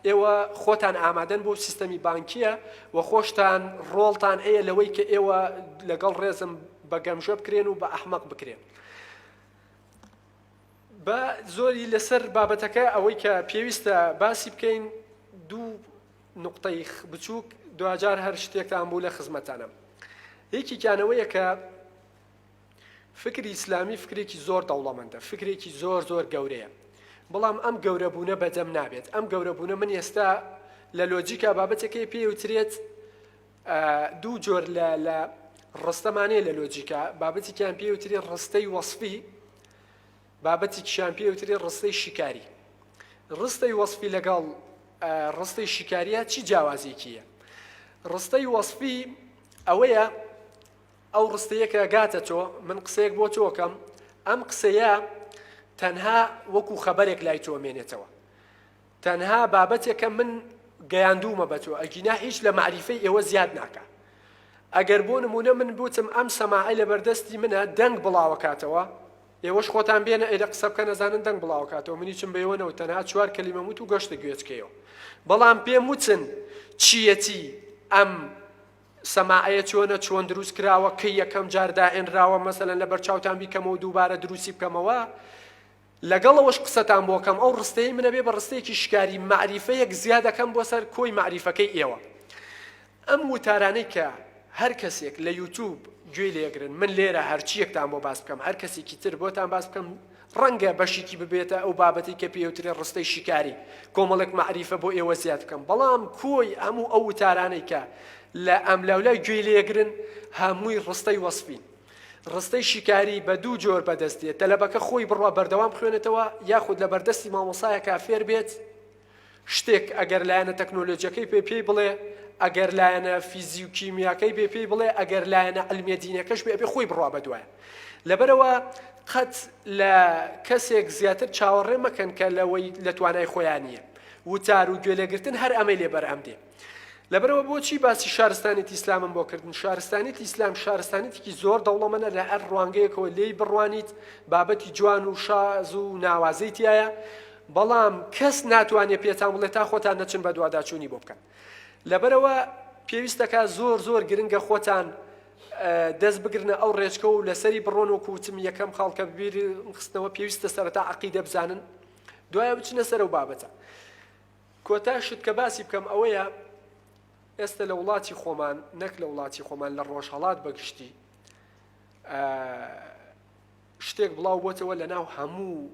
[SPEAKER 2] ئێوە خۆتان ئامادەن بۆ سیستەمی بانکییە و خۆشتان ڕۆڵتان ئەیە لەوەی کە ئێوە لەگەڵ ڕێزم بە گەمژە بکرێن و بە ئەحمەق بکرێن. با زۆری لەسەر بابەتەکە ئەوەی کە پێویستە باسی بکەین دوو نقطەی بچووک دواجار هەر شتێکتان بوو لە خزمەتانم یەکێکیانەوەیە کە فکری ئیسلامی فکرێکی زۆر دەوڵەمەندە فکرێکی زۆر زۆر گەورەیە بەڵام ئەم گەورەبوونە بەدەم نابێت ئەم گەورەبوونە من ئێستا لە لۆجیکا بابەتەکەی پێوترێت دوو جۆر لە لە ڕستەمان هەیە لە لۆجیکا، بابەتێکیان پێی وترێ ڕستەی وەسفی، بابەتێکیشیان پێی وترێ ڕستەی شیکاری. ڕستەی وەسفی لەگەڵ ڕستەی شیکاریە چی جیاوازیەکی هەیە؟ ڕستەی وەسفی ئەوەیە ئەو ڕستەیەکە گاتە تۆ من قسەیەک بۆ تۆکەم ئەم قسەیە تەنها وەکو خەبەرێک لای تۆ مێنێتەوە تەنها بابەتێکە من گەیاندوومە بە تۆ ئەگینا هیچ لە مەعریفەی ئێوە زیاد ناکا ئەگەر بۆ نمونە من بوتم ئەم سەماعە لە بەردەستی منە دەنگ بڵاوەکاتەوە ئێوەش خۆتان بێنە ئێرە قسە بکە نەزانن دەنگ بڵاوکاتەوە منی چم بەیوەنەوە تەنها چوار کەلیمە وت و گەشتە گوێچکەیەوە بەڵام پێم وتن چیەتی ئەم سەماعەیە چۆنە چۆن دروست کراوە کە یەکەم جار داهێنراوە مەسەلەن لە بەرچاوتان بیکەمەوە دووبارە دروستی بکەمەوە لەگەڵ ئەوەش قسەتان بۆ کەم ئەو ڕستەیەی منە بێ بە ڕستەیەکی شکاری مەعریفەیەک زیاد ئەکەم بۆ سەر کۆی مەعریفەکەی ئێوە ئەم وتارانەی کە هەر کەسێک لە یوتوب گوێی لێ ئەگرن من لێرە هەرچیەکتان بۆ باس بکەم هەر کەسێکی تر بۆتان باس بکەم ڕەنگە بەشێکی ببێتە ئەو بابەتی کە پێوترێ ڕستەی شیکاری کۆمەڵێک مەعریفە بۆ ئێوە زیاد بکەم بەڵام کۆی هەموو ئەو وتارانەی کە لە ئەملاولای گوێی لێگرن هەمووی ڕستەی وەسپین ڕستەی شیکاری بە دوو جۆر بەدەست دێت، تەلەبەکە خۆی بڕوا بەردەوام بخوێنێتەوە یاخود لەبەردەستی مامۆستایەکا فێر بێت شتێک، ئەگەر لایەنە تەکنۆلۆجیەکەی بێ پێی بڵێ، ئەگەر لایەنە فیزی و کیمیاکەی بێ پێی بڵێ، ئەگەر لایەنە عیلمیە دینیەکەش بێ ئەبێ خۆی بڕوا بەدوایان. لەبەرئەوە قەت لە کەسێک زیاتر چاوەڕێ مەکەن کە لەوەی لە توانای خۆیان نیە. وتار و گوێ لێگرتن هەر ئەمەی لێ بەرهەم دێ. لەبەرئەوە بۆچی باسی شارستانێتی ئیسلامم بۆ کردن شارستانێتی ئیسلام شارستانێتێکی زۆر دەوڵەمەە لە هەر ڕوانگەیەکەوە لێی بڕوانیت بابەتی جوان و شاز و ناوازەی تایە بەڵام کەس ناتوانێت پێتان بڵێت تا خۆتان نەچن بە دوواداچوونی بۆ بکەن لەبەرەوە پێویستەکە زۆر زۆر گرنگە خۆتان دەست بگرنە ئەو ڕێچکە و لەسەری بڕۆن و کوچم یەکەم خاڵکە بیر خستنەوە پێویستە سەرەتا عقیدە بزانن دوایە بچنە سەر و بابەتە کۆتا شت کە باسی بکەم ئەوەیە ئێستە لە وڵاتی خۆمان نەک لە وڵاتی خۆمان لە ڕۆژهەڵات بەگشتی شتێک بڵاو بۆتەوە لە ناو هەموو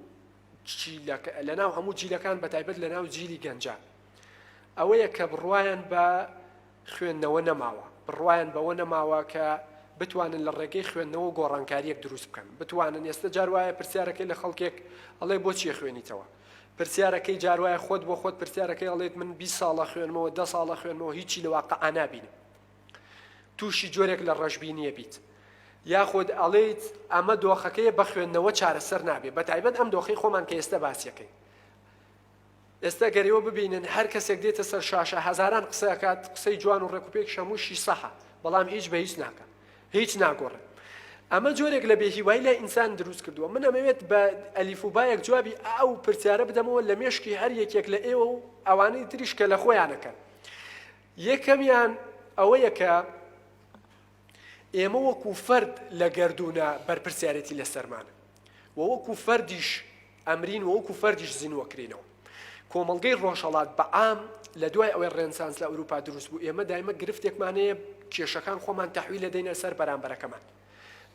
[SPEAKER 2] لە ناو هەموو جیلەکان بە تایبەت لە ناو جیلی گەنجە ئەوەیە کە بڕواان بە خوێندنەوە نەماوە بڕواان بەوە نەماوە کە بتوانن لە ڕێگەی خوێندنەوە گۆڕانکاریەک دروست بکەن بتوانن ئێستا جار وایە پرسیارەکەی لە خەڵکێک ئەڵێ بۆ چیە خوێنیتەوە پرسیارەکەی جار وایە خۆت بۆ خۆت پرسیارەکەی ئەڵێت من بیست ساڵە خوێنمەوە دە ساڵە خوێنمەوە هیچی لە واقع نابینم تووشی جۆرێک لە ڕەشبینیە بیت یاخود ئەڵێیت ئەمە دۆخەکەی بە خوێندنەوە چارەسەر نابێت بە تایبەت ئەم دۆخی خۆمان کە ئێستا باسیەکەی ئێستا گەرەوە ببینن هەر کەسێک دێتە سەر شاشە هزاران قسەکات قسەی جوان و ڕێکوپێک شەمووشی سەحە بەڵام هیچ بە هیچ ناکە هیچ ناگۆڕێ ئەمە جۆرێک لە بێهیوای لای ئینسان دروست کردووە من ئەمەوێت بە ئەلیف و بایەک جوابی ئەو پرسیارە بدەمەوە لە مێشکی هەر یەکێک لە ئێوە و ئەوانەی تریش کە لە خۆیانەکەن یەکەمیان ئەوەیە کە ئێمە وەکو فەرد لە گردوونە بەرپرسیارەتی لەسەرمانە وەوەکو فەردیش ئەمرین و وەکو فەردیش زینوە کرینەوە. کۆمەڵگەی ڕۆژهەڵات بە عام لە دوای ئەوەی ڕێنسانس لە ئەوروپا دروست بوو ئێمە دایمە گرفتێکمان هەیە کێشەکان خۆمان تەحویل ئەدەینە سەر بەرامبەرەکەمان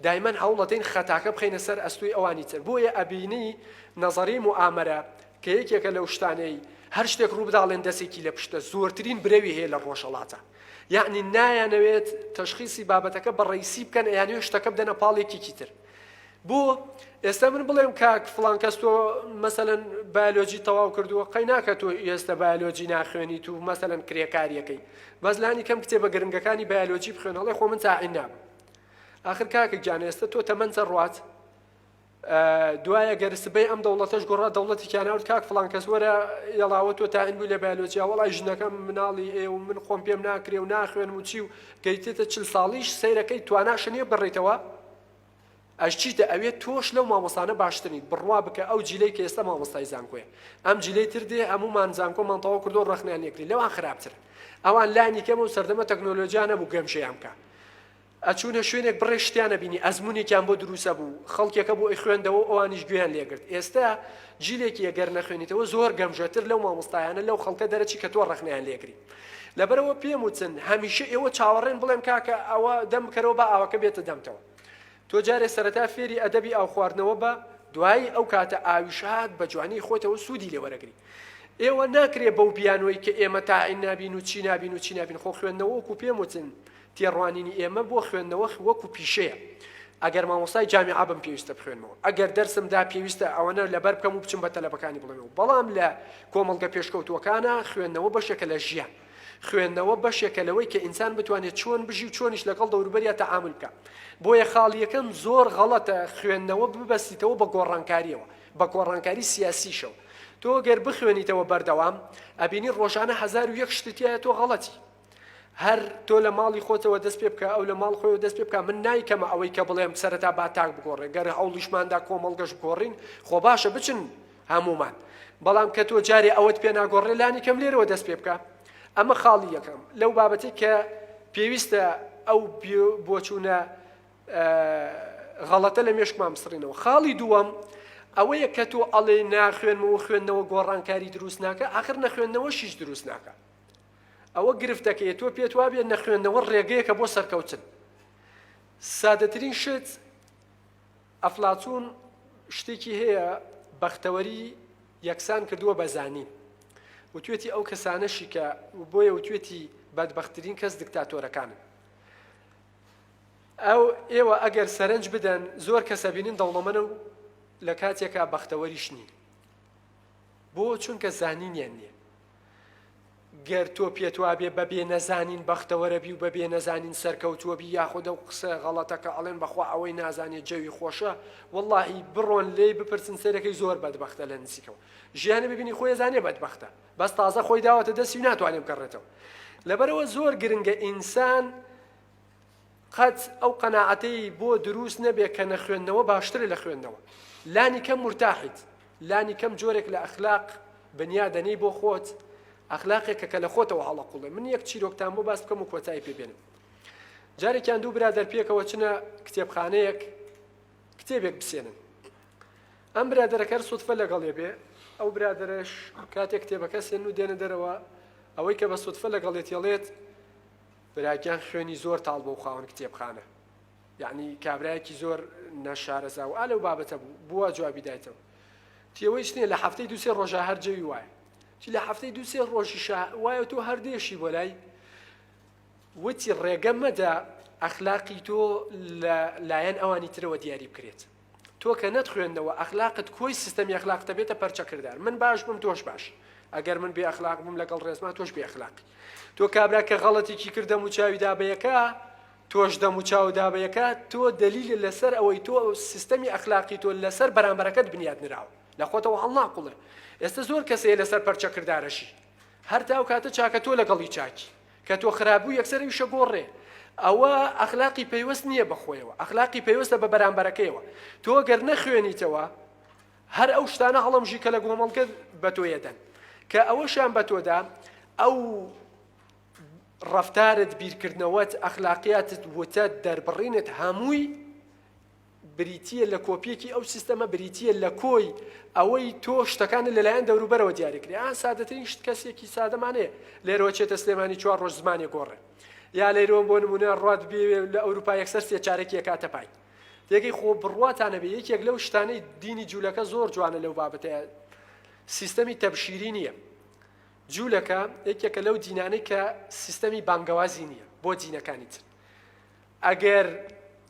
[SPEAKER 2] دایمەن هەوڵ ئەدەین خەتاکە بخەینە سەر ئەستوی ئەوانی تر بۆیە ئەبینی نەزەری موئامەرە کە یەکێکە لەو شتانەی هەر شتێک ڕوو بداڵێن دەسێکی لە پشتە زۆرترین برەوی هەیە لە ڕۆژەڵاتە یعنی نایانەوێت تەشخیسی بابەتەکە بە ڕیسی بکەن ئەیانوێ شتەکە بدەنە پاڵێکیکی تر بۆ ئێستا من بڵێم کاک فلان کەس تۆ مەسەەن بایلۆجی تەواو کردووە قەی ناکە تۆ ئێستا بایلۆجی ناخوێنی تو مەسەەن کرێکاریەکەی بەس لانی کەم کتێبە گرنگەکانی بایلۆجی بخوێن هەڵێ خۆ من تاعین نام آخر کاکە گیان ئێستا تۆ تەمەەنجە ڕات دوایە گەرسبەی ئەم دەوڵەتەش گوڕا دەوڵەتی کیانناوت کاک فلان کەس وەرە یڵاوە تۆ تاعین بوو لە بایلۆجیا وڵی ژنەکەم مناڵی ئێ و من خۆم پێم ناکرێ و ناخوێن و چی و گەیتێتە چل ساڵیش سیرەکەی تواناشە نیە بڕیتەوە ئەی چیتە ئەوێ تۆش لەو مامۆستانە باشتر نیت بڕوا بکە ئەو جیلەی کە ئێستا مامۆستای زانکۆیە ئەم جیلەی تر دێ هەموومان زانکۆمان تەواو کردو ڕەخنیان لێکرێ لەوان خراپتر ئەوان لانی کەم و سەردەمە تەکنۆلۆجیا نەبوو گەمژەیان بکە ئەچوونە شوێنێک بڕێ شتیانە بینی ئەزمونێکیان بۆ دروسە بوو خەڵکێکە بۆ ئەی خوێندەوە ئەوانیش گوێیان لێگرت ئێستا جیلێکی ئەگەر نەخوێنیتەوە زۆر گەمژەتر لەو مامۆستایانە لەو خەڵکە دەرەچی کە تۆ ڕەخنیان لێگری لەبەرئەوە پێم وتن هەمیشە ئێوە چاوەڕێن بڵێم کاکە ئەوە دەم بکەرەوە بە ئاوەکە بێتە دەمتەوە تۆ جارێ سەرەتا فێری ئەدەبی ئاو خواردنەوە بە دوایی ئەو کاتە ئاویشهات بە جوانی خۆتەوە سوودی لێوەرەگری ئێوە ناکرێ بەو بیانوەی کە ئێمە تاعین نابین و چی نابین و چی نابین خۆ خوێندنەوەکو پێم وتن تێڕوانینی ئێمە بۆ خوێندنەوە وەکو پیشەیە ئەگەر مامۆستای جامیعە بم پێویستە بخوێنمەوە ئەگەر دەرسم دا پێویستە ئەوەنە لەبەر بکەم و بچم بە تەلەبەکانی بڵێمەوە بەڵام لە کۆمەڵگە پێشکەوتووەکانە خوێندنەوە بەشێکە لە ژیان خوێندنەوە بەشێکە لەوەی کە ئینسان بتوانێت چۆن بژی و چۆنیش لەگەڵ دەوروبەریا تەعامل بکە بۆیە خاڵیەکەم زۆر غەڵەتە خوێندنەوە ببەستیتەوە بە گۆڕانکاریەوە بە گۆڕانکاری سیاسیشەوە تۆ گەر بخوێنیتەوە بەردەوام ئەبینی ڕۆژانە هزار و یەک شتتیایە تۆ غەڵەتی هەر تۆ لە ماڵی خۆتەوە دەست پێ بکە، ئەو لە ماڵ خۆیەوە دەست پێ بکا، من نایکەمە ئەوەی کە بڵێم سەرەتا با تاک بگۆڕێ، گەر هەوڵیشمان دا کۆمەڵگەش بگۆڕین، خۆ باشە بچن هەموومان، بەڵام کە تۆ جارێ ئەوەت پێ ناگۆڕێ لانی کەم لێرەوە دەست پێ بکە. ئەمە خاڵی یەکەم لەو بابەتەی کە پێویستە ئەو بۆچوونە غەڵەتە لە مێشکمان بسڕینەوە. خاڵی دووەم ئەوەیە کە تۆ ئەڵێ ناخوێنمەوە خوێندنەوە گۆڕانکاری دروست ناکە، ئاخر نەخوێندنەوەشیش دروست ناکە. ئەوە گرفتەکەیە تۆ پێت وابێ نەخوێندنەوە ڕێگەیەکە بۆ سەرکەوتن سادەترین شت ئەفلاتون شتێکی هەیە بەختەوەری یەکسان کردووە بە زانین وتوێتی ئەو کەسانەشی کە بۆیە وتوێتی بەدبخترین کەس دکتاتۆرەکانن ئەو ئێوە ئەگەر سەرنج بدەن زۆر کەسە بینن دەوڵەمەە و لە کاتێکا بەختەوەریش نین بۆ چونکە زانینیان نییە گەر تۆ پێت وابێ بە بێ نەزانین بەختەوەرەبی و بە بێ نەزانین سەرکەوتووەبی یاخود ئەو قسە غەڵەتە کە ئەڵێن بەخوا ئەوەی نازانێت جەوی خۆشە واللهی بڕۆن لێی بپرسن سەرەکەی زۆر بەدبەختە لە نزیکەوە ژیانە ببینی خۆی زانێ بەدبەختە بەس تازە خۆی داوەتە دەستی و ناتوانێ بگەڕێتەوە لەبەرەوە زۆر گرنگە ئینسان قەت ئەو قەناعەتەی بۆ دروست نەبێ کە نەخوێندنەوە باشترە لە خوێندنەوە. لانی کەم مورتاحیت، لانی کەم جۆرێک لە ئەخلاق بنیا دەنێی بۆ خۆت، ئەخلاقێکە کە لە خۆتەوە هەڵئەقوڵێ. من یەک چیرۆکتان بۆ باس بکەم و کۆتایی پێ بێنم. جارێکیان دوو برادەر پێکەوە چنە کتێبخانەیەک کتێبێک بسێنن. ئەم برادەرە کەر سوتفە لەگەڵێ بێ، ئەو برادەرەش کاتێک کتێبەکە سێن و دێنە دەرەوە، ئەوەی کە بە سوتفە لەگەڵێتیەڵێت، براگیان خوێنی زۆر تاڵ بەو خاوەن کتێبخانە یەعنی کابرایەکی زۆر نەشارەزا و ئا لەو بابەتە بوو بووە جوابی دایتەوە تی ئەوەی چنیە لە هەفتەی دو سێ ڕۆژە هەر جەوی وایە تی لە هەفتەی دو سێ ڕۆژی شا وایە تۆ هەر دێشی بۆ لای وتی ڕێگە مەدە ئەخلاقی تۆ لە لایەن ئەوانی ترەوە دیاری بکرێت تۆ کە نەت خوێندەوە ئەخلاقت کۆی سیستەمی ئەخلاقت دەبێتە پەرچە کردار من باش بم تۆش باش ئەگەر من بێ ئەخلاق بم لەگەڵ ڕێزما تۆش بێ ئەخلاقی تۆ کابرا کە غەڵەتێکی کرد دەم و چاوی دابەیەکە تۆش دەم و چاو دابەیەکە تۆ دەلیل لەسەر ئەوەی تۆ سیستەمی ئەخلاقی تۆ لەسەر بەرامبەرەکەت بنیاد نراوە لە خۆتەوە هەڵنا قوڵێ ئێستا زۆر کەسەیە لەسەر پەرچە کردارەشی هەر تاو کاتە چاکە تۆ لەگەڵی چاکی کە تۆ خراپ بوو یەکسەر ئیشە گۆڕێ ئەوە ئەخلاقی پەیوەست نییە بە خۆیەوە ئەخلاقی پەیوەستە بە بەرامبەرەکەیەوە تۆ گەر نەخوێنیتەوە هەر ئەو شتانە هەڵەمژی کە لە گۆمەڵگە بە تۆیەدەن کە ئەوەشیان بە تۆدا ئەو ڕفتارت بیرکردنەوەت ئەخلاقیاتت وتە دەربڕینت هەمووی بریتییە لە کۆپییەکی ئەو سیستەمە بریتییە لە کۆی ئەوەی تۆ شتەکانت لەلایەن دەوروبەرەوە دیاری کری ئا سادەترین شت کەسێکی سادەمانەیە لێرەوە چێتە سلێمانی چوار ڕۆژ زمانێ گۆڕێ یا لەیرۆن بۆ نمونە ڕات بێ لە ئەوروپا یەکسەر سێ چارێکی کاتە پای تێگەی خۆ بڕواتانە بێ یەکێک لەو شتانەی دینی جوولەکە زۆر جوانە لەو بابەتەیە سیستەمی تەبشیری نییە جوولەکە یەکێکە لەو دینانەی کە سیستەمی بانگەوازی نییە بۆ دینەکانی تر ئەگەر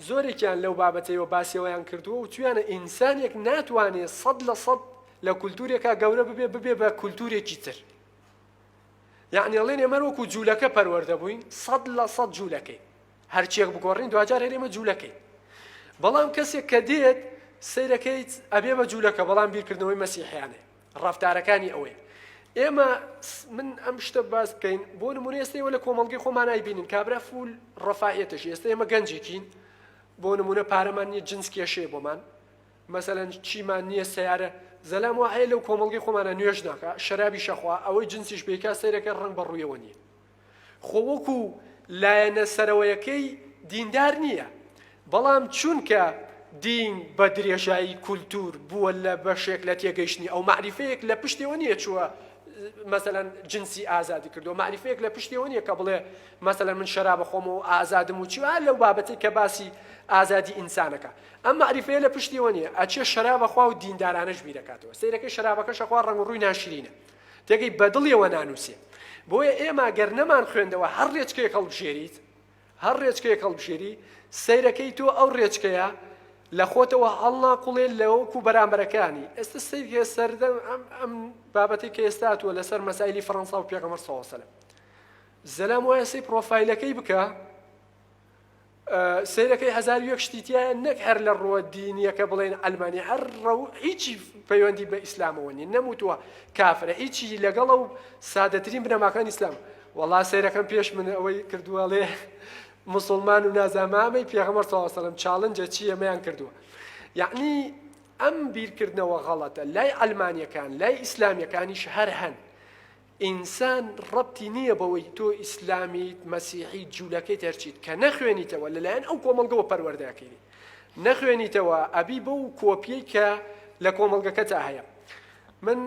[SPEAKER 2] زۆرێکیان لەو بابەتەیەوە باسیەوەیان کردووە وتویانە ئینسانێک ناتوانێ سەد لە سەد لە کولتورێکا گەورە ببێ ببێ بە کولتورێکی تر یعنی ئەڵێن ئێمە وەکو جوولەکە پەروەردە بووین سەد لە سەد جوولەکەی هەرچێک بگۆڕین دواجار هەرێمە جوولەکەی بەڵام کەسێک کە دێت سیرەکەیت ئەبێ بە جوولەکە بەڵام بیرکردنەوەی مەسیحیانێ ڕەفتارەکانی ئەوەی ئێمە من ئەم شتە باس بکەین بۆ نمونە ئێستا ئێوە لە کۆمەڵگەی خۆمان نایبینین کابرا فول ڕەفاهیەتەش ئێستا ئێمە گەنجێکین بۆ نمونە پارەمان نییە جنس کێشەیە بۆمان مەسەلەن چیمان نییە سیارە زەلام وایە لەو کۆمەڵگەی خۆمانە نوێژ ناکە شەرابی شەخوا ئەوەی جنسیش بێکا سەیرەکە ڕەنگ بە ڕوویەوە نییە خۆ وەکو لایەنە سەرەوەیەکەی دیندار نییە، بەڵام چونکە دین بە درێژایی کولتوور بووە لە بەشێک لە تێگەیشتنی ئەو، مەعریفەیەک لە پشتێوە نییە چووە مەسەلەن جنسی ئازادی کردووە، مەعریفەیەک لە پشتێوە نییە کە بڵێ مەسەلەن من شەراب ئەخۆم و ئازادم و چی و هەر لەو بابەتەی کە باسی ئازادی ئینسانەکە، ئەم مەعریفەیە لە پشتێوە نییە، ئەچێ شەراب ئەخوا و دیندارانەش بیرەکاتەوە، سەیرەکەی شەرابەکەش ئەخوا ڕەنگ و ڕووی ناشرینە. تێگەی بەدڵیەوە نانوسێ بۆیە ئێمە گەر نەمان خوێندەوە هەر رێچکەیەک هەڵبژێریت هەر رێچکەیەک هەڵبژێری سەیرەکەی تۆ ئەو رێچکەیە لە خۆتەوە هەڵناقوڵێ لەوەکو بەرامبەرەکانی ئێستا سەیرکە سەردەم ئەم ئەم بابەتی کە ئێستا هاتووە لەسەر مەسایلی فەرەنسا و پێغەمبەر صلی الله علیه و سلم زەلام وایە سەی پرۆفایلەکەی بکە سەیرەکەی هەزار و یەک شتی تیایە نەک هەر لە ڕووە دینیەکە بڵێن عەلمانی هەر ڕەو هیچی پەیوەندی بە ئیسلامەوە نیە نەموتوە کافرە هیچی لەگەڵە و سادەترین بنەماکان ئیسلام وەڵا سەیرەکەم پێش من ئەوەی کردووە ڵێ مسلمان و نازامامەی پێغەمەر ساوەسەلم چاڵنجە چی ئەمەیان کردووە یعنی ئەم بیرکردنەوە غەڵەتە لای عەلمانیەکان لای ئیسلامیەکانیش هەر هەن ئینسان ڕەبتی نیە بەوەی تۆ ئیسلامیت مەسیحیت جولەکەیت هەرچیت کە نەخوێنیتەوە لەلایەن ئەو کۆمەڵگەوە پەروەردە ئەکەیت نەخوێنیتەوە ئەبی بەو کۆپیەی کە لە کۆمەڵگەکەتا هەیە من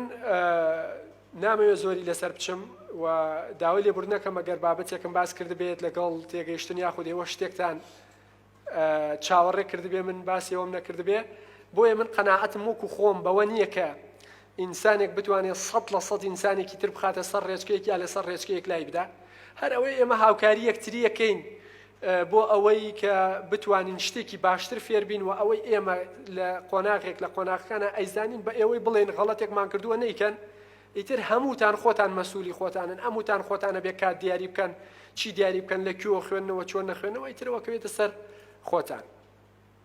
[SPEAKER 2] نامەوێ زۆری لەسەر بچم و داوای لێبوردنەکەم ئەگەر بابەتێکم باس کردبێت لەگەڵ تێگەیشتن یاخود ئێوە شتێکتان چاوەڕێ کردبێ من باسی ئەوەم نەکردبێ بۆیە من قەناعەتم وەکو خۆم بەوە نییە کە ئینسانێک بتوانێت سەد لە سەد ئینسانێکی تر بخاتە سەر ڕێچکەیەک یا لەسەر ڕێچکەیەک لای بدا هەر ئەوەی ئێمە هاوکاری یەکتریەکەین بۆ ئەوەی کە بتوانین شتێکی باشتر فێربین و ئەوەی ئێمە لە قۆناغێک لە قۆناغەکانە ئەیزانین بە ئێوەی بڵێن غەڵەتێکمان کردووە نیکەن ئیتر هەمووتان خۆتان مەسولی خۆتانن ئەموتان خۆتانە بێ کات دیاری بکەن چی دیاری بکەن لە کوێوە خوێندنەوە چۆن نەخوێنەوە ئیترەوە کەوێتە سەر خۆتان.